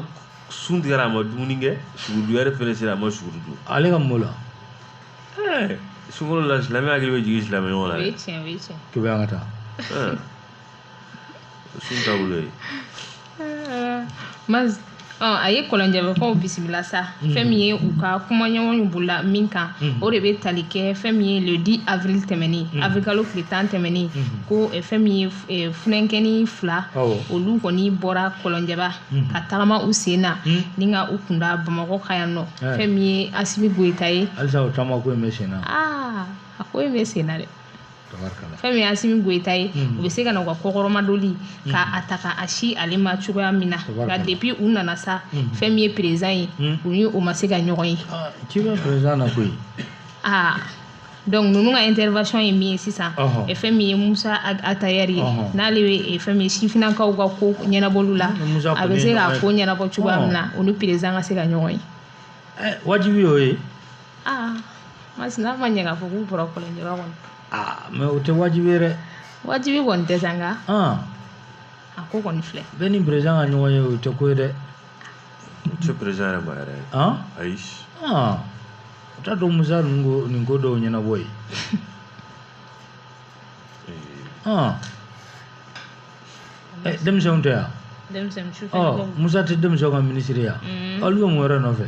sun tigɛra a ma dumuni kɛ suguri yɛrɛ fana sera a ma suguri dun ale ka mun la sunkalo la silamɛ hakili bɛ jigin silamɛ ɲɔgɔn la kebe an ka taa Sun taabolo ye ma a ye kɔlɔnjɛbakaw bisimila sa mm. fɛn min ye u ka kumaɲɔgɔnw bolola min kan mm. o de bɛ tali kɛ fɛn min ye le 10 avril tɛmɛnen mm. avril kalo tile tan tɛmɛnen ko eh, fɛn min ye eh, funankɛni fila olu kɔni bɔra kɔlɔnjɛba ka tagama u sen na ni ka u kunda bamakɔ ka yan nɔ eh. fɛn min ye asimi goyita ye halisa o taama ko in bɛ sen na aa a ko in bɛ sen na dɛ fɛn min ye asimi goyita ye u bɛ se ka na u ka kɔkɔrɔmadoli ka a ta ka a sin ale ma cogoya min na nka depuis u nana sa fɛn min ye président ye u ni o ma se ka ɲɔgɔn ye ci bɛ président na koyi aa donc ninnu ka intervention ye min ye sisan fɛn min ye musa atayɛri ye n'ale bɛ fɛn min ye sifinnakaw ka ko ɲɛnabɔliw la a bɛ se k'a ko ɲɛnabɔ cogoya min na u ni président ka se ka ɲɔgɔn ye wajibi y'o ye aa masina ma ɲɛ k'a fɔ k'u bɔra kɔlɔnjɛba kɔnɔ aa mais o tɛ wajibi ye dɛ wajibi kɔni tɛ sa nka an a ko kɔni filɛ bɛɛ ni président ka ɲɔgɔn ye o tɛ ko ye dɛ o tɛ président yɛrɛ ma yɛrɛ an ayi an o t'a dɔn musa ninnu ko nin ko dɔw ɲɛnabɔ ye an ɛ denmisɛnw tɛ yan denmisɛnnin su fɛ ɔ musa tɛ denmisɛnw ka minisiri ye wa olu bɛ mun wɛrɛ nɔfɛ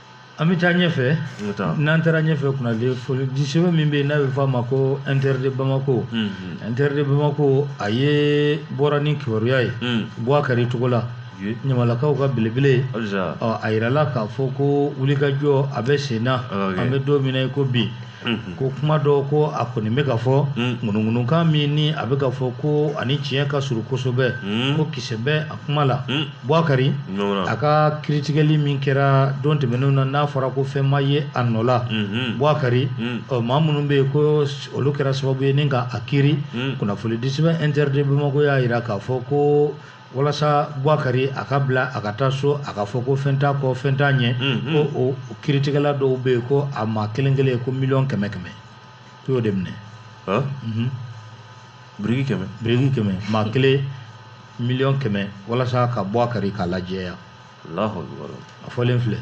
An bɛ taa ɲɛfɛ n'an taara ɲɛfɛ kunnafonidisɛbɛn min bɛ yen n'a bɛ f'a ma ko inter de bamakɔ inter de bamakɔ a ye bɔra ni kibaruya ye buwakari togola ɲamalakaw ka belebele a jirala k'a fɔ ko wulikajɔ a bɛ senna an bɛ don min na i ko bi ko kuma dɔ ko a kɔni bɛ ka fɔ ŋunuŋunukan min ni a bɛ ka fɔ ko ani tiɲɛ ka surun kosɛbɛ ko kisɛ bɛ a kuma la Buakari a ka kiritigɛli min kɛra don tɛmɛnenw na n'a fɔra ko fɛn ma ye a nɔ la Buakari ɔ maa minnu bɛ yen ko olu kɛra sababu ye ni ka a kiri kunnafonidisɛbɛn Inter de Bamako y'a jira k'a fɔ ko walasa Buakari a ka bila a ka taa so a ka fɔ ko fɛn t'a kɔ fɛn t'a ɲɛ ko o kiritigɛla dɔw bɛ yen ko a maa kelen kelen ko miliyɔn kɛmɛ kɛmɛ ko y'o de minɛ biriki kɛmɛ biriki kɛmɛ maa kelen miliyɔn kɛmɛ walasa ka Buakari k'a lajɛya a fɔlen filɛ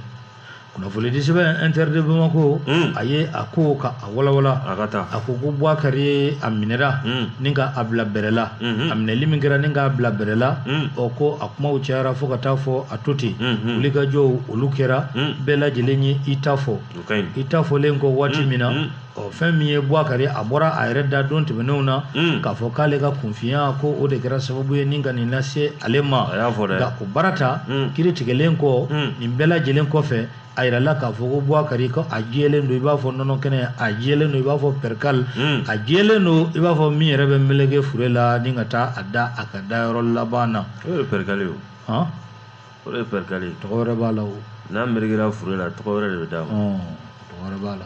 kunnafoni di sɛbɛn Inter de Bamako a ye a ko ka a walawala a ko ko Buakari ye a minɛra ni ka a bila bɛrɛla a minɛli min kɛra ni k'a bila bɛrɛla ɔ ko a kumaw cayara fo ka taa fɔ a to ten wulikajɔw olu kɛra bɛɛ lajɛlen ye i ta fɔ i ta fɔlen kɔ waati min na ɔ fɛn min ye Buakari a bɔra a yɛrɛ da don tɛmɛnenw na mm. k'a fɔ k'ale ka kunfinya ko o de kɛra sababu ye ni ka nin lase ale ma nka o baara ta mm. kiri tigɛlen kɔ mm. nin bɛɛ lajɛlen kɔfɛ a yirala k'a fɔ ko Buakari ko a jɛlen don i b'a fɔ nɔnɔ kɛnɛ a jɛlen don i b'a fɔ perikali a jɛlen don i b'a fɔ min yɛrɛ bɛ meleke fure la ni ka taa a da a ka da yɔrɔ laban na o ye perikali ye o o ye perikali ye tɔgɔ wɛrɛ b'a la o n'a melekera fure la tɔgɔ wɛrɛ de bɛ d'a ma tɔgɔ wɛrɛ b'a la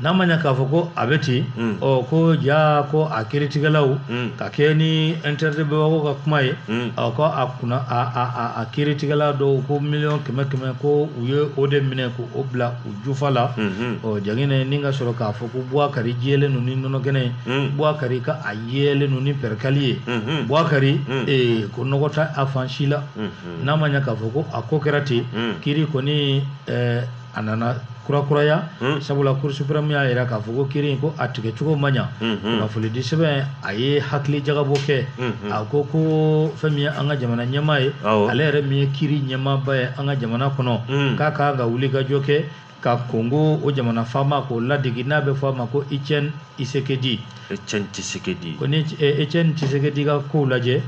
n'a ma ɲɛ k'a fɔ ko a bɛ ten mm. ɔ ko ja ko a kiritigɛlaw mm. ka kɛ ni Inter de Bamako ka kuma ye mm. ɔ ko a kunna a kiritigɛla dɔw ko miliyɔn kɛmɛ kɛmɛ ko u ye o de minɛ ko o bila u jufa la mm-hmm. ɔ jagine ni ka sɔrɔ k'a fɔ ko buwakari jɛlen don ni nɔnɔkɛnɛ ye buwakari ka a jɛlen don ni pɛrikali ye mm-hmm. buwakari eh, ko nɔgɔ t'a a fan si la mm-hmm. n'a ma ɲɛ k'a fɔ ko a ko kɛra ten kiri kɔni eh, a nana kurakuraya hmm. sabula cour suprême y'a yira k'a fɔ ko kiri in ko a tigɛ cogo ma ɲa hmm, hmm. kunnafonidi sɛbɛn a ye hakili jagabɔ kɛ a ko ko fɛn min ye an ka jamana ɲɛmaa ye ale yɛrɛ min ye kiri ɲɛmaaba ye an ka jamana kɔnɔ k'a ka kan ka wulikajɔ kɛ ka kongo o jamana faama k'o ladege n'a bɛ fɔ a ma ko Etienne Tshisekedi Etienne Tshisekedi ko ni Etienne Tshisekedi ka kow lajɛ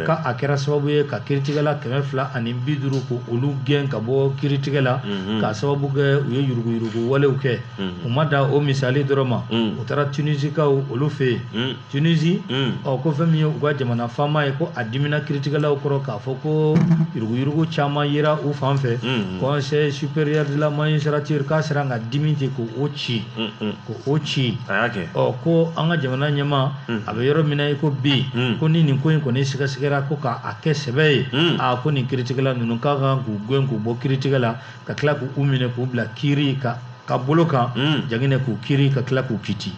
ko a kɛra sababu ye ka kiritigɛla kɛmɛ fila ani bi duuru ko olu gɛn ka bɔ kiritigɛ la k'a sababu kɛ u ye yuruguyurugu walew kɛ u ma da o misali dɔrɔn ma u taara tunisikaw olu fɛ yen tunisi ɔ ko fɛn min ye u ka jamana faama ye ko a dimina kiritigɛlaw kɔrɔ k'a fɔ ko yuruguyurugu caman yera u fan fɛ conseil supérieur de la magistrature k'a sera ka dimi ten ko o ci ko o ci ko an ka jamana ɲɛma a bɛ yɔrɔ min na i ko bi ko ni nin ko in kɔni sɛgɛsɛgɛra ko k'a kɛ sɛbɛ ye aa ko nin kiritigɛla ninnu ka kan k'u gɛn k'u bɔ kiritigɛ la ka tila k'u minɛ k'u bila kiri ka bolo kan jaginɛ k'u kiri ka tila k'u kiti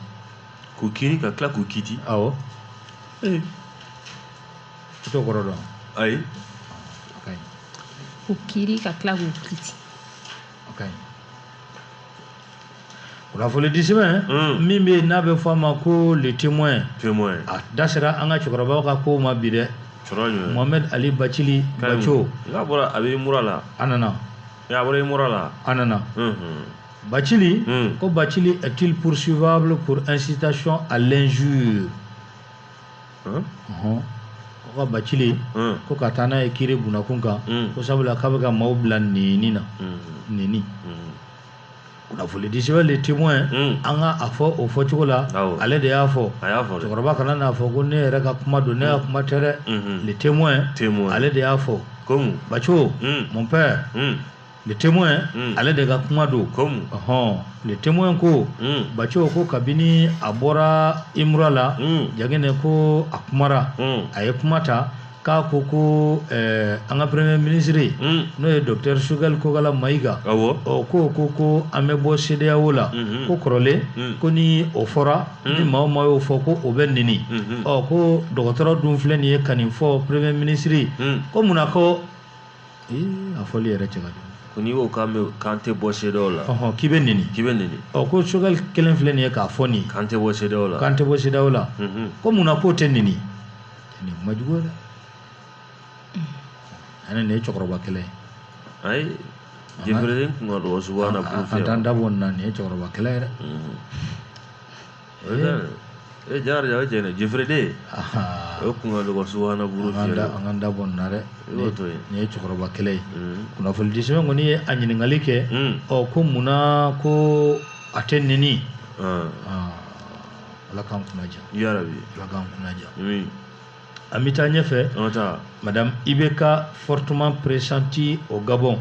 k'u kiri ka tila k'u kiti aw t'o kɔrɔ dɔn ayi k'u kiri ka tila k'u kiti kunnafoni di sɛbɛn min bɛ n'a bɛ fɔ a ma ko le témoin a da sera an ka cɛkɔrɔbaw ka kow ma bi dɛ Mohamed Ali Bacili Baco n'a bɔra a bɛ mura la a nana a bɔra imura la a nana Bacili ko Bacili est-il poursuivable pour incitation à l'injure ko Bacili ko ka taa n'a ye kiri bunakun kan ko sabula k'a bɛ ka maaw bila nɛni na nɛni Kunnafoni di sɛbɛn le témoin an ka a fɔ o fɔcogo la ale de y'a fɔ cɛkɔrɔba kana n'a fɔ ko ne yɛrɛ ka kuma don ne ka kuma tɛ dɛ le témoin ale de y'a fɔ Baco mon père le témoin ale de ka kuma don hɔn le témoin ko Baco ko kabini a bɔra imura la jaginɛ ko a kumara a ye kuma ta k'a ko ko eh, an ka premier ministre ye mm. n'o ye docteur Choguel Kokala Mayiga awɔ ɔ k'o ko ko an bɛ bɔ CEDEAO la mm-hmm. ko kɔrɔlen mm. ko ni o fɔra mm. ni maa o maa y'o fɔ ko o bɛ nɛni mm-hmm. ɔ ko dɔgɔtɔrɔ dun filɛ nin ye ka nin fɔ premier ministre ko munna ko a fɔli yɛrɛ cɛ ka jugu ko n'i y'o kan mɛn k'an tɛ bɔ CEDEAO la ɔhɔn k'i bɛ nɛni k'i bɛ nɛni ɔ ko Choguel kelen filɛ nin ye k'a fɔ nin k'an tɛ bɔ CEDEAO la k'an tɛ bɔ CEDEAO la mm-hmm. ko munna k'o tɛ nɛni nin ma juguya dɛ ani nin ye cɛkɔrɔba kɛlɛ ye ayi jefere kun ka dɔgɔ subahana buru fɛ an t'an da bɔ nin na nin ye cɛkɔrɔba kɛlɛ ye dɛ e jari o jaginɛ jefere de o kun ka dɔgɔ subahana buru fɛ an k'an da bɔ nin na dɛ nin ye cɛkɔrɔba kɛlɛ ye kunnafoni di sɛbɛn kɔni ye a ɲininkali kɛ ɔ ko munna ko a tɛ nɛni ala k'an kunna diya ala k'an kunna diya an bɛ taa ɲɛfɛ madame IBK fortement pressentie au gabon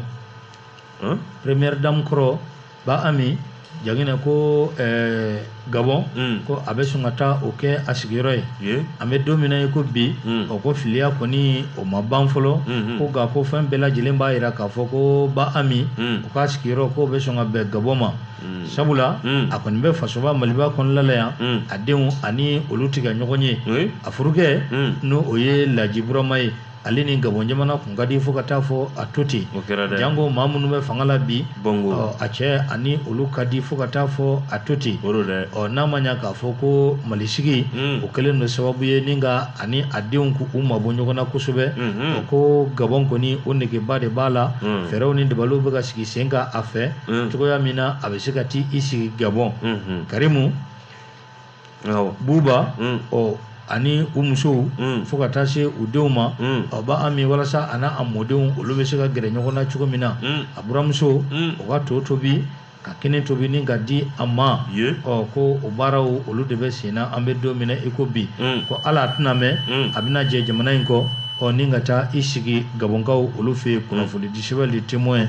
première dame kɔrɔ ba ami jaginɛ ko eh, gabon hmm. ko a bɛ sɔn ka taa o kɛ a sigiyɔrɔ ye an bɛ don min na i ko bi hmm. o ko filiya kɔni o ma ban fɔlɔ hmm, ko nka ko fɛn bɛɛ lajɛlen b'a jira k'a fɔ ko ba ami o ka sigiyɔrɔ k'o bɛ sɔn ka bɛn gabon ma sabula a kɔni bɛ fasoba maliba kɔnɔnala yan a denw ani olu tɛ ka ɲɔgɔn ye a furukɛ n' o ye laji burama ye ale ni gabɔn jamana tun ka di fo ka taa fɔ a to ten janko maa minnu bɛ fanga la bi a cɛ ani olu ka di fo ka taa fɔ a to ten ɔ n'a ma ɲɛ k'a fɔ ko mali sigi o kɛlen don sababu ye ni ka ani a denw k' u mabɔ ɲɔgɔn na kosɛbɛ ko gabɔn kɔni o negeba de b'a la fɛɛrɛw ni dabaliw bɛ ka sigi sen kan a fɛ mm. cogoya min na a bɛ se ka t'i sigi gabɔn mm-hmm. karimu buba mm. ɔ ani u musow mm. fo ka taa se u denw ma ɔ ba ami walasa a n'a a mɔdenw olu bɛ se ka gɛrɛ ɲɔgɔn na cogo min na a buramuso o ka to tobi ka kini tobi ni ka di a ma ɔ ko o baaraw olu de bɛ sen na an bɛ don min na i ko bi ko ala a tɛna mɛn a bɛna jɛ jamana in kɔ ɔ ni ka taa i sigi gabɔnkaw olu fɛ yen kunnafonidi sɛbɛn le témoin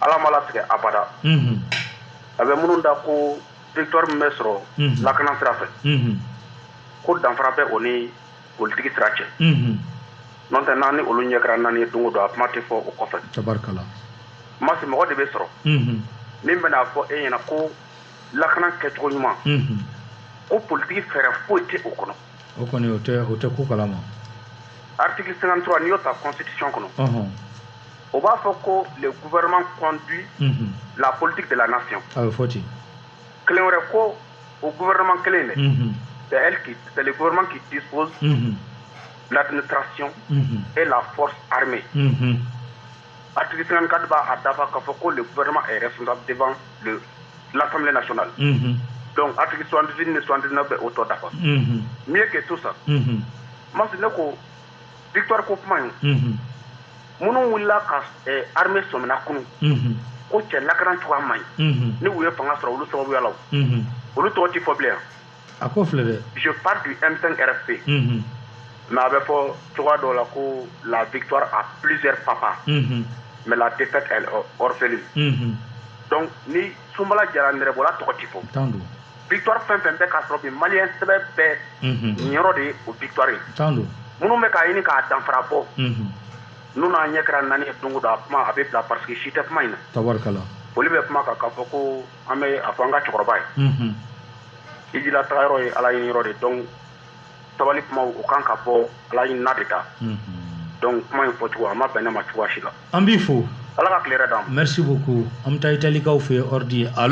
ala m'a latigɛ abada a bɛ minnu da ko victoire min bɛ sɔrɔ lakana sira fɛ ko danfara bɛ o ni politiki sira cɛ n'o tɛ n'an ni olu ɲɛ kɛra naani ye don o don a kuma tɛ fɔ o kɔfɛ masi mɔgɔ de bɛ sɔrɔ min bɛna a fɔ e ɲɛna ko lakana kɛcogo ɲuman ko politiki fɛɛrɛ foyi tɛ o kɔnɔ o kɔni o tɛ ko kalama article 53 n'i y'o ta constitution kɔnɔ o b'a fɔ ko le gouvernement conduit unhun, la politique de la nation a bɛ fɔ ten kelen wɛrɛ ko o gouvernement kelen dɛ unhun, c'est elle qui c'est le gouvernement qui dispose unhun, l'administration unhun, et la force armée unhun, article 54 b'a dafa k'a fɔ ko le gouvernement est responsable devant le l'assemblée nationale unhun, donc article 78 ni 79 bɛ o tɔ dafa unhun, mieux que tout ça unhun. masi ne ko victoire ko kuma in minnu wulila ka armée sɔmina kunun ko cɛ lakana cogoya man ɲi ni u ye fanga sɔrɔ olu sababuya la olu tɔgɔ tɛ fɔ bilen a ko filɛ dɛ je parle du M5 RFP mais a bɛ fɔ cogoya dɔ la ko la victoire a plusieurs papas mais la défaite est orpheline donc ni sunbala diyara nɛrɛbɔla tɔgɔ tɛ fɔ victoire fɛn fɛn bɛ ka sɔrɔ bi maliyɛn sɛbɛ bɛɛ niyɔrɔ de ye o victoire ye minnu bɛ k'a ɲini k'a danfara bɔ n'u n'a ɲɛ kɛra naani ye don o don a kuma a bɛ bila parce que si tɛ kuma in na olu bɛ kuma kan k'a fɔ ko an bɛ a fɔ an ka cɛkɔrɔba ye hiji la taga yɔrɔ ye ala ɲini yɔrɔ de donc sabali kuma o kan ka bɔ ala ɲinina de da donc kuma in fɔcogo a ma bɛn ne ma cogoya si la an b'i fo ala ka tile hɛrɛ d'an ma merci beaucoup an bɛ taa italikaw fɛ yen ɔridi ye a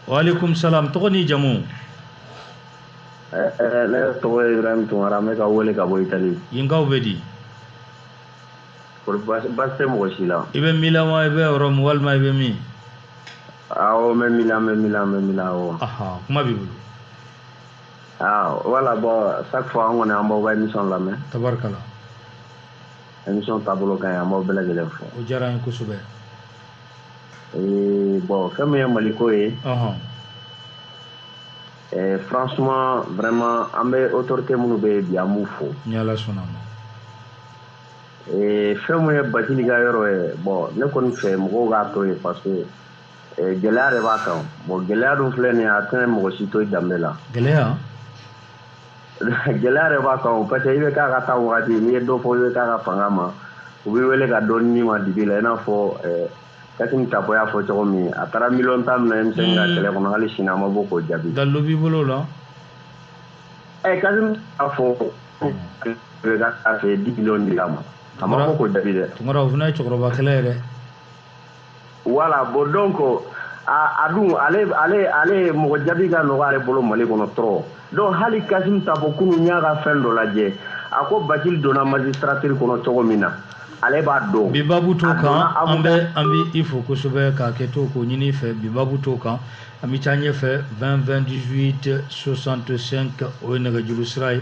waaleykum salaam tɔgɔ ni jamu eh, eh, ne tɔgɔ ye ibrahim tunkara n bɛ ka wele ka bɔ itali yenkaw bɛ di basi tɛ mɔgɔ si la i bɛ milan wa i bɛ rome walima i bɛ min awɔ n bɛ milan n bɛ milan n bɛ milan awɔ kuma b'i bolo voilà bon chaque fois an kɔni an b'aw ka émission lamɛn tabarikala émission taabolo ka ɲi an b'aw bɛɛ lajɛlen fo o diyara n ye kosɛbɛ ee bon fɛn min ye maliko ye ee franchement vraiment an bɛ autorité minnu bɛ yen bi an b'u fo ni ala sɔnna ma ee fɛn min ye bacili ka yɔrɔ ye bon ne kɔni fɛ mɔgɔw k'a to yen parce que ee gɛlɛya de b'a kan bon gɛlɛya dun filɛ nin ye a tɛna mɔgɔ si to i danbe la gɛlɛya gɛlɛya de b'a kan o parce que i bɛ k'a ka taa wagati n'i ye dɔ fɔ i bɛ k'a ka fanga ma u b'i wele ka dɔɔni d'i ma dibi la i n'a fɔ eh, Kassim Tapo y'a fɔ cogo min a taara miliyɔn tan minɛ M5 ka kɛlɛ kɔnɔ hali sini a ma bɔ k'o jaabi. Dalilu b'i bolo o la. Ɛ eh, Kassim a fɔ bɛ ka taa fɛ dix millions dira a ma a ma bɔ k'o jaabi dɛ. Tunkara o fana ye cɛkɔrɔba kɛlɛ ye dɛ. voilà bon donc a dun ale ale ale mɔgɔ jaabi ka nɔgɔ ale bolo mali kɔnɔ trop donc hali kasim tapo kunu n y'a ka fɛn dɔ lajɛ a ko bacili donna magistrature kɔnɔ cogo min na ale b'a dɔn bi babu t'o kan an bɛ an bɛ i fo kosɛbɛ k'a kɛ to k'o ɲini i fɛ bi babu t'o kan an bɛ taa ɲɛfɛ 20 20 18 65 o ye nɛgɛjuru sira ye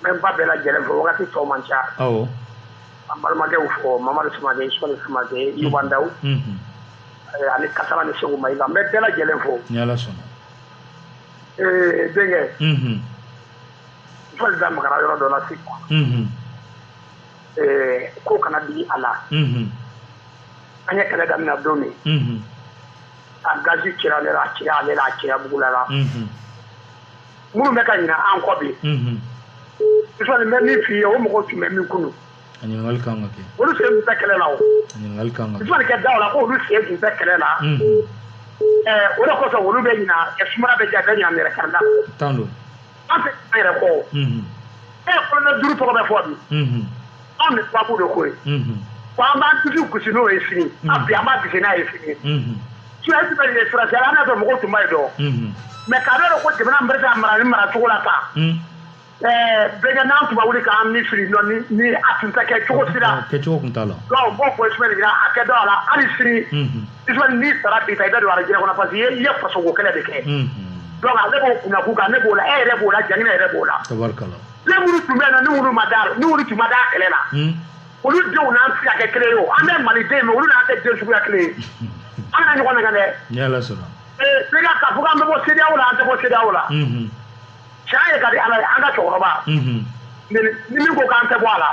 n bɛ n ba bɛɛ lajɛlen fo wagati tɔ man ca awɔ an balimakɛw fo mamadu samakɛ sole samakɛ yubandaw mhm eh, ani kasara ni segu mayiga n bɛ bɛɛ lajɛlen fo ni ala sɔnna Eh, denkɛ mhm n fɔli da magara yɔrɔ dɔ la sisan mhm Eh, ko kana digi a la mhm an ye kɛlɛ daminɛ don min mhm a gazi cira ale la a cira ale la a cira bugula la mhm minnu bɛ ka ɲina an kɔ bi fɔli bɛ min f'i ye o mɔgɔw tun bɛ min kunu ɲininkali kan ka kɛ olu sen tun tɛ kɛlɛ la o ɲininkali kan ka kɛ fɔli kɛ daw la ko olu sen tun tɛ kɛlɛ la o de kosɔn olu bɛ ɲina sumaya bɛ ja bɛ ɲina yɛrɛ karida tan don an tɛ an yɛrɛ kɔ e kolonɛli duuru tɔgɔ bɛ fɔ bi anw ni sababu de ko ye ko an b'an dusu gosi n'o ye sini an bi an b'a gosi n'a ye sini surasi bɛ ye surasi ala n'a fɛ mɔgɔw tun b'a ye dɔn mɛ k'a bɛ dɔn ko jamana bɛ se ka mara ni mara cogo la tan bɛnkɛ n'an tun ma wuli k'an ni fili dɔn ni a tun tɛ kɛ cogo si la kɛcogo tun t'a la dɔw b'o fɔ ismaɛli jira a kɛ dɔw a la hali sini ismaɛli n'i sara bi ta i bɛ don arijinɛ kɔnɔ parce que i ye fasoko kɛlɛ de kɛ donc ale b'o kunna k'u kan ne b'o la e yɛrɛ b'o la jamana yɛrɛ b'o la tabarikala den minnu tun bɛ yen nɔ ni olu ma da ni olu tun ma da kɛlɛ la hmm. olu denw n'an tɛ se ka kɛ kelen ye o an bɛɛ maliden mais olu n'an tɛ den suguya kelen ye an kana ɲɔgɔn nɛgɛn dɛ sega k'a fɔ k'an bɛ bɔ CEDEAO la an tɛ bɔ CEDEAO la tiɲɛ hmm. ye ka di ala ye an ka cɛkɔrɔba hmm. ni min ko k'an tɛ bɔ a la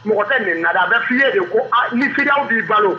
mɔgɔ tɛ nin na dɛ a bɛ f'i ye de ko ni CEDEAO b'i balo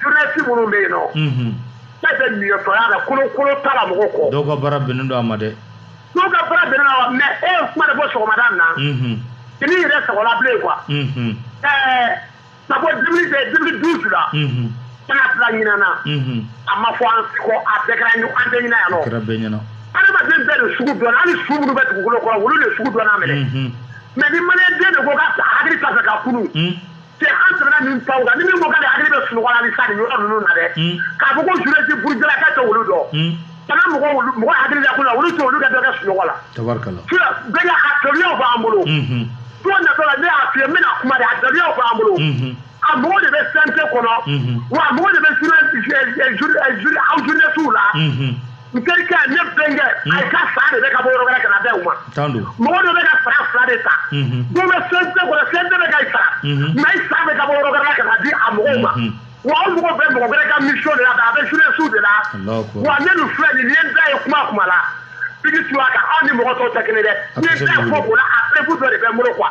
journaliste minnu bɛ yen nɔ. Unhun. Bɛɛ bɛ niyɔtɔya la kolokolo t'a la mɔgɔ kɔ. Dɔw ka baara bɛnnen don a ma dɛ. Dɔw ka baara bɛnnen don a ma mais e ye kuma de fɔ sɔgɔmada in na. Unhun. I n'i yɛrɛ sɔgɔla bilen quoi. Unhun. Ɛɛ ka bɔ 2000 2012 la. Unhun. Ka na bila ɲinan na. Unhun. A ma fɔ an si kɔ a bɛɛ kɛra ɲɔ an bɛɛ ɲɛna yan nɔ. A kɛra bɛɛ ɲɛna. Adamaden bɛɛ de sugu dɔnna hali su minnu bɛ dugukolo kɔrɔ olu de sugu dɔnna minɛ. Unhun. Mais ni maliyɛn den de ko k'a hakili t'a fɛ ka kunu. Un. c'est an tɛmɛna nin taw kan ni min ko k'ale hakili bɛ sunɔgɔ la ni sa nin yɔrɔ ninnu na dɛ hmm. k'a fɔ ko journaliste burujalaka tɛ olu dɔn hmm. kana mɔgɔ mɔgɔ hakili la ko la olu tɛ olu ka dɔ kɛ sunɔgɔ la tabarikala sira bɛɛ ka a dɔnniyaw b'an bolo hmm, don natɔ la ne y'a f'i ye n bɛna kuma de a dɔnniyaw b'an bolo a mɔgɔ de bɛ CNT kɔnɔ wa a mɔgɔ de bɛ journée journée aw journalistes la. n terikɛ ne bɛnkɛ a ye ka sara de bɛ ka bɔ yɔrɔ wɛrɛ ka na bɛn u ma mɔgɔ dɔ bɛ ka sara fila de ta dɔ bɛ CNT kɔnɔ CNT bɛ ka i sara mais i sara bɛ ka bɔ yɔrɔ wɛrɛ ka na di a mɔgɔw ma wa o mɔgɔ bɛ mɔgɔ wɛrɛ ka mission de la a bɛ journalistes de la wa ne dun filɛ nin ye n da ye kuma kuma la bigi tu a kan aw ni mɔgɔ tɔw tɛ kelen dɛ n ye n da fɔ o la a preuve dɔ de bɛ n bolo quoi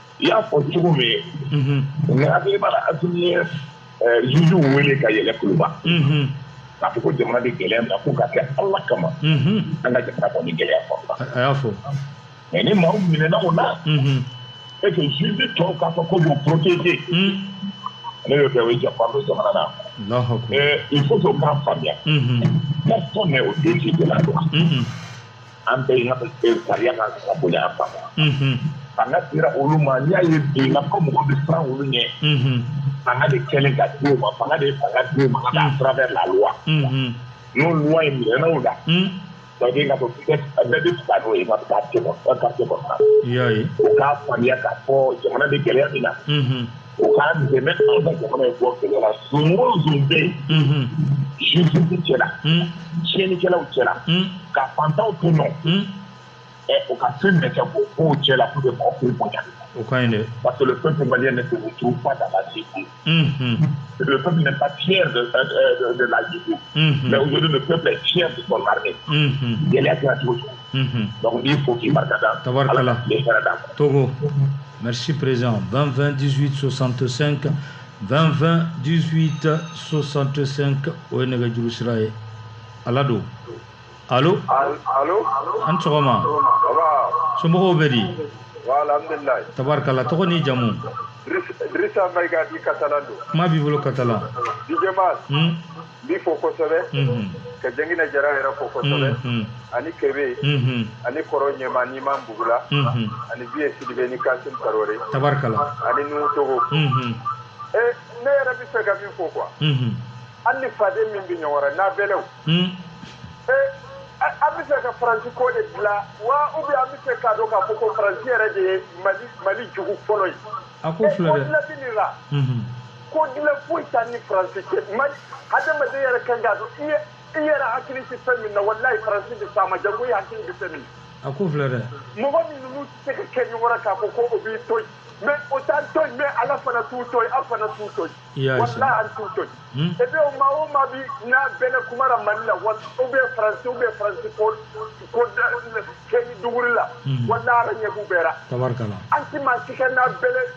i y'a fɔ cogo min ye n hakili b'a la Asimi ye juges wele ka yɛlɛ kuluba k'a fɔ ko jamana bɛ gɛlɛya min na ko ka kɛ Ala kama an ka jamana kɔni ni gɛlɛya kɔnɔna na a y'a fɔ mais ni maaw minɛna o la et que juges tɔw k'a fɔ k'u b'u protéger n'a y'o kɛ o ye janfa don jamana na Alahu akibaru il faut que o k'a faamuya personne n'est au-dessus de la loi an bɛɛ in e sariya ka ka bonya an fama an ka sira olu ma n'i y'a ye bi n ka ko mɔgɔ bɛ siran olu ɲɛ fanga de kɛlen ka di u ma fanga de ye fanga di u ma à travers la loi n'o loi ye minɛna u la donc i n'a fɔ bɛɛ bɛ fisa n'o ye ka taa se kɔnɔ ka se kɔnɔ o k'a faamuya k'a fɔ jamana bɛ gɛlɛya min na O ka dɛmɛ an ka jamana in bɔ gɛlɛya la. Zon o zon bɛ yen. Unhun. Justice cɛ la. Un. Tiɲɛnikɛlaw cɛ la. Un. Ka fantanw tɔɲɔ. Un. Ɛ o ka fɛn bɛɛ kɛ k'o bɔ u cɛ la pour que mɔgɔ k'u bonya. O ka ɲi dɛ. Parce que le peuple malien ne se retrouve pas dans la justice. Unhun. Le peuple n'est pas fier de de de de la justice. Unhun. Mais aujourd'hui le peuple est fier de son armée. Unhun. Gɛlɛya kɛra cogo cogo. Unhun. Donc n b'i fo k'i barika da. Tabarikala. Ala ka tile hɛrɛ d'an ma. Togo. Merci président. 20 20 18 65 20 20 18 65 o ye nɛgɛjuru sira ye. Ala don. Allo? Al- Alo. A ni sɔgɔma. Baba. Somɔgɔw bɛ di? Wa alhamdulilayi. Tabarikala. Tɔgɔ n'i jamu? Dris- Drissa Maïga dit Katalan don. Kuma b'i bolo Katalan. DJ Mas. Hun? N b'i fo kosɛbɛ ka Janginɛ Jara yɛrɛ fo kosɛbɛ ani Kebe ani kɔrɔ ɲɛma ni Imam Bugula ani Biye Sidibe ni Kasim Tarawore ani Nuhu Togo ee ne yɛrɛ bɛ se ka min fɔ quoi an ni faden min bɛ ɲɔgɔn n'a bɛlaw ee an bɛ se ka faransi ko de dilan wa ou bien an bɛ se k'a dɔn k'a fɔ ko faransi yɛrɛ de ye mali jugu fɔlɔ ye a ko la ko dilan foyi t'a ni faransi cɛ mali hadamaden yɛrɛ kan k'a dɔn i ye i yɛrɛ hakili tɛ fɛn min na walayi faransi bɛ s'a ma janko i hakili bɛ fɛn min a ko filɛ dɛ mɔgɔ min ninnu tɛ se ka kɛ ɲɔgɔn na k'a fɔ ko o b'i to yen mais o t'an to yen mais ala fana t'u to yen an fana t'u to yen I y'a ye sa. walayi an t'u to yen et puis o maa o maa bi n'a bɛlɛ kumara mali la wa ou bien faransi ou bien faransi ko ko da kɛ ni duguri la walayi ala ɲɛ b'u bɛɛ la tabarikala an ti maa si ka n'a bɛlɛ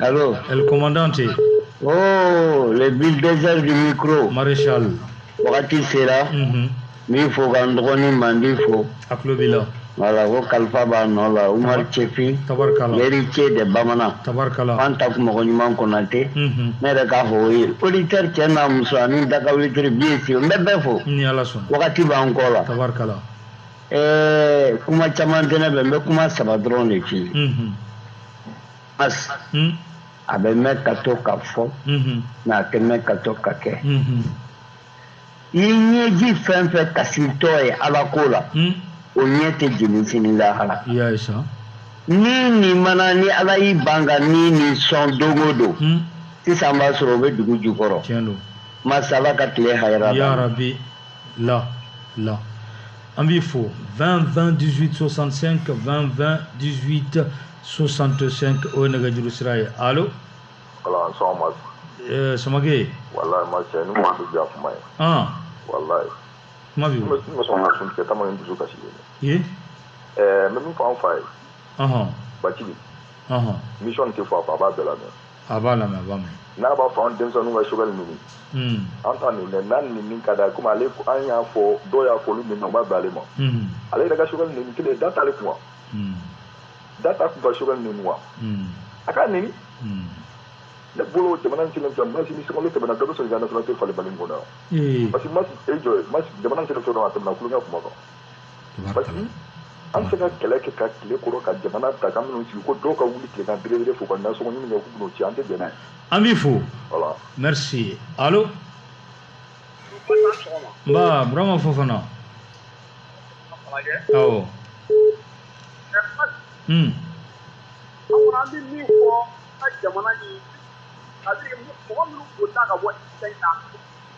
Allô El Commandante. Oh, le bulldozer du micro. Maréchal. Wagati sera. Mm -hmm. N b'i fo ka n dɔgɔnin mandi fo. A tulo b'i la. Voilà ko kalifa b'a nɔ la Umar Cɛfin. Tabarikala. Héritier de bamanan. Tabarikala. An ta kun mɔgɔ ɲuman Konate. Mm -hmm. Ne yɛrɛ k'a fɔ o ye. Auditeur cɛ n'a muso ani dakawulitiri bien sûr n bɛ bɛɛ fo. Ni Ala sɔnna. Wagati b'an kɔ la. Tabarikala. Ɛɛ kuma caman tɛ ne bɛ n bɛ kuma saba dɔrɔn de f'i ye. Mm -hmm. hmm? a bɛ mɛn ka to ka fɔ mhm. mais a tɛ mɛn ka to ka kɛ mhm. i ɲɛji fɛn fɛn kasitɔ ye ala ko la hmm? o ɲɛ tɛ jeni sini lahara ni nin mana ni ala y'i ban ka ni nin sɔn don o don hmm? sisan b'a sɔrɔ o bɛ dugu jukɔrɔ Mas ala ka tile hayira la là, là. An b'i fo 20 20 18 65 20 20 18 65 o ye nɛgɛjuru sira ye alo Ala sɔgɔma ɛɛ Samake walayi ma cɛ ni maa bɛ diya kuma ye ɔn walayi kuma b'i bolo bɛ n bɛ sɔn ka sun tigɛ tama ni dusu kasi ye ye ɛɛ n bɛ min fɔ an fa ye ɔhɔn bacili ɔhɔn misiyɔn tɛ fɔ a fa a b'a bɛɛ lamɛn A b'a lamɛn a b'a mɛn. N'a b'a fɔ an denmisɛnninw ka Choguel neni. Unhun. An t'a neni dɛ n'a ni min ka d'a ye comme ale an y'a fɔ dɔw y'a fɔ olu min na u ma bɛn ale ma. Unhun. Ale yɛrɛ ka Choguel neni kelen da t'ale kun wa? Unhun. Da t'a kun ka Choguel neni wa? Unhun. A k'a neni. Unhun. Ne bolo jamana in cilen filɛ Mas ni sunkalo tɛmɛna dɔ bɛ sɔn k'i ka nationalité falen Mali in kɔnɔ yan. Ee! Parce que Mas e jɔ ye Mas jamana in cilen filɛ dɔrɔn a tɛmɛna kulonkɛ kuma kan. an se ka kɛlɛ kɛ ka tile kɔrɔ ka jamana ta ka minnu sigi ko dɔw ka wuli tile ka belebele fo ka nasɔngɔ ɲini kɛ k'u ci an tɛ bɛn n'a ye an b'i fo voilà merci allo nba burama fofana awɔ hmm. an bɛ min fɔ an ka jamana in mɔgɔ minnu ko ta ka bɔ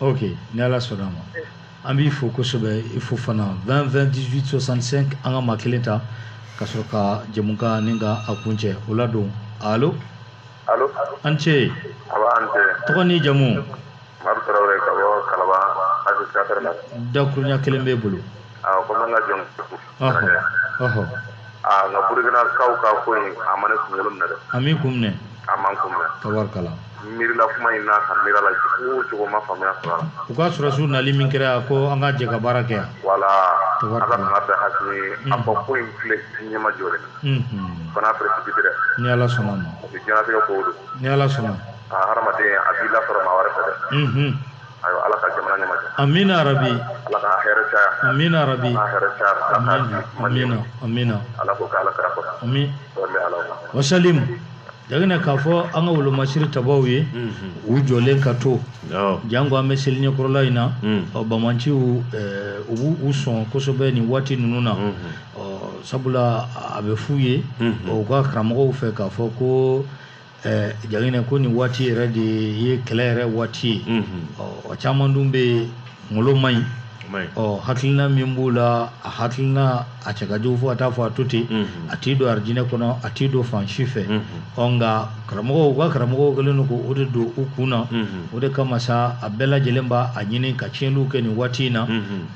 ok ni ala sɔnna ma an b'i fo kosɛbɛ i fofana 20 20 18 65 an ka maa kelen ta ka sɔrɔ ka jɛmukan nin ka a kuncɛ o la don alo an ce tɔgɔ ni jamu dakurunya kelen b'e bolo aa nka burkinakaw ka ko in a ma ne kunkolo minɛ dɛ a m'i kun minɛ a ma n kun minɛ tabarikala miirila kuma in na ka miiri a la cogo o cogo n ma faamuya sɔrɔ a la u ka sɔrɔdasiw nali min kɛra ko an ka jɛ ka baara kɛ voilà ala ka nana bɛɛ hakili ye a fɔ ko in filɛ ɲɛma jɔ dɛ fana précipité dɛ ni ala sɔnna ma o bɛ diɲɛnatigɛ kow don ni ala sɔnna a hadamaden a b'i lasɔrɔ maa wɛrɛ fɛ dɛ ayiwa ala ka jamana ɲɛma jɔ amina rabi ala ka hɛrɛ caya amina rabi ala hɛrɛ caya ala ka amina amina amina ala ko k'ala kɛra kɔrɔ ami dɔn bɛ ala ma wasalimu jagina k'a fɔ an ka wolomasiri tabaw ye u jɔlen ka to Awɔ. janko an bɛ seli ɲɛkɔrɔla in na Mm. ɔ bamanciw eh, u b'u sɔn kosɛbɛ nin waati ninnu na ɔ sabula a bɛ f'u ye Mhm. ɔ, u ka karamɔgɔw fɛ k'a fɔ ko jagina ko nin waati yɛrɛ de ye kɛlɛ yɛrɛ waati ye o caman dun bɛ yen kungolo man ɲi ɔ hakilina min b'u la a hakilina a cɛ ka jugu fo a t'a fɔ a to ten a t'i don arijinɛ kɔnɔ a t'i don fan si fɛ ɔ nka karamɔgɔw u ka karamɔgɔw kɛlen don k'o de don u kun na o de kama sa a bɛɛ lajɛlen b'a a ɲini ka tiɲɛniw kɛ nin waati in na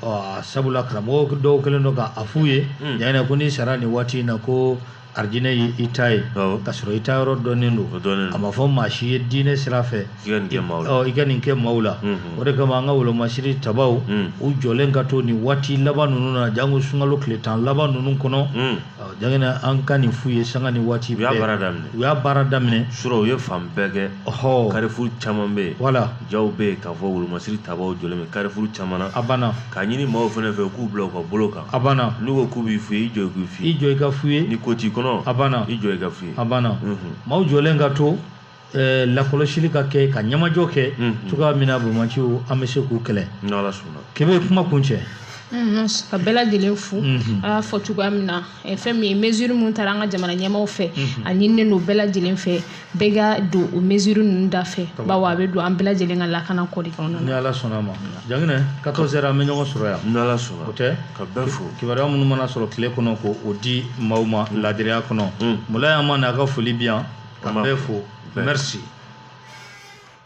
ɔ sabula karamɔgɔw dɔw kɛlen don k'a f'u ye yan ko n'i sara nin waati in na ko alijinɛ ye i ta ye ka sɔrɔ i ta yɔrɔ dɔnnen don a ma fɔ maa si ye diinɛ sira fɛ i ka nin kɛ maaw la o de kama an ka wolomasiri tabaw u jɔlen ka to nin waati laban ninnu na janko sunkalo tile tan laban ninnu kɔnɔ jagina an ka nin f'u ye sanga ni waati u y'a baara daminɛ u y'a baara daminɛ surɔ u ye fan bɛɛ kɛ ɔ carrefour caman bɛ yen wala jaw bɛ yen k'a fɔ wolomasiri tabaw jɔlen bɛ carrefour caman na a banna k'a ɲini maaw fana fɛ k'u bila u ka bolo kan a banna n'u ko k'u b'i fouiller i jɔ u k'i fouiller i jɔ i ka fouiller ni ko t'i kɔnɔ a banna i jɔ i ka fouiller a banna maaw jɔlen ka to eh, lakɔlɔsili ka kɛ ka ɲɛmajɔ kɛ cogoya min na bamanciw an bɛ se k'u kɛlɛ n'ala sɔnna kebe kuma kuncɛ Mhm, ka bɛɛ lajɛlen fo an y'a fɔ cogoya min na eh, fɛn min ye mesure min tara an ka jamana ɲɛmaaw fɛ a ɲininen don bɛɛ lajɛlen fɛ bɛɛ ka don o mesure ninnu da fɛ bawo a bɛ don an bɛɛ lajɛlen ka lakana ko de kɔnɔna ni ala sɔnna a ma jaginɛ 14 heures an bɛ ɲɔgɔn sɔrɔ yan ni ala sɔnna o tɛ ka bɛɛ fo kibaruya minnu mana sɔrɔ tile kɔnɔ k'o di maaw ma laadiriya kɔnɔ mulayi an ma n'a ka foli bi yan ka bɛɛ fo merci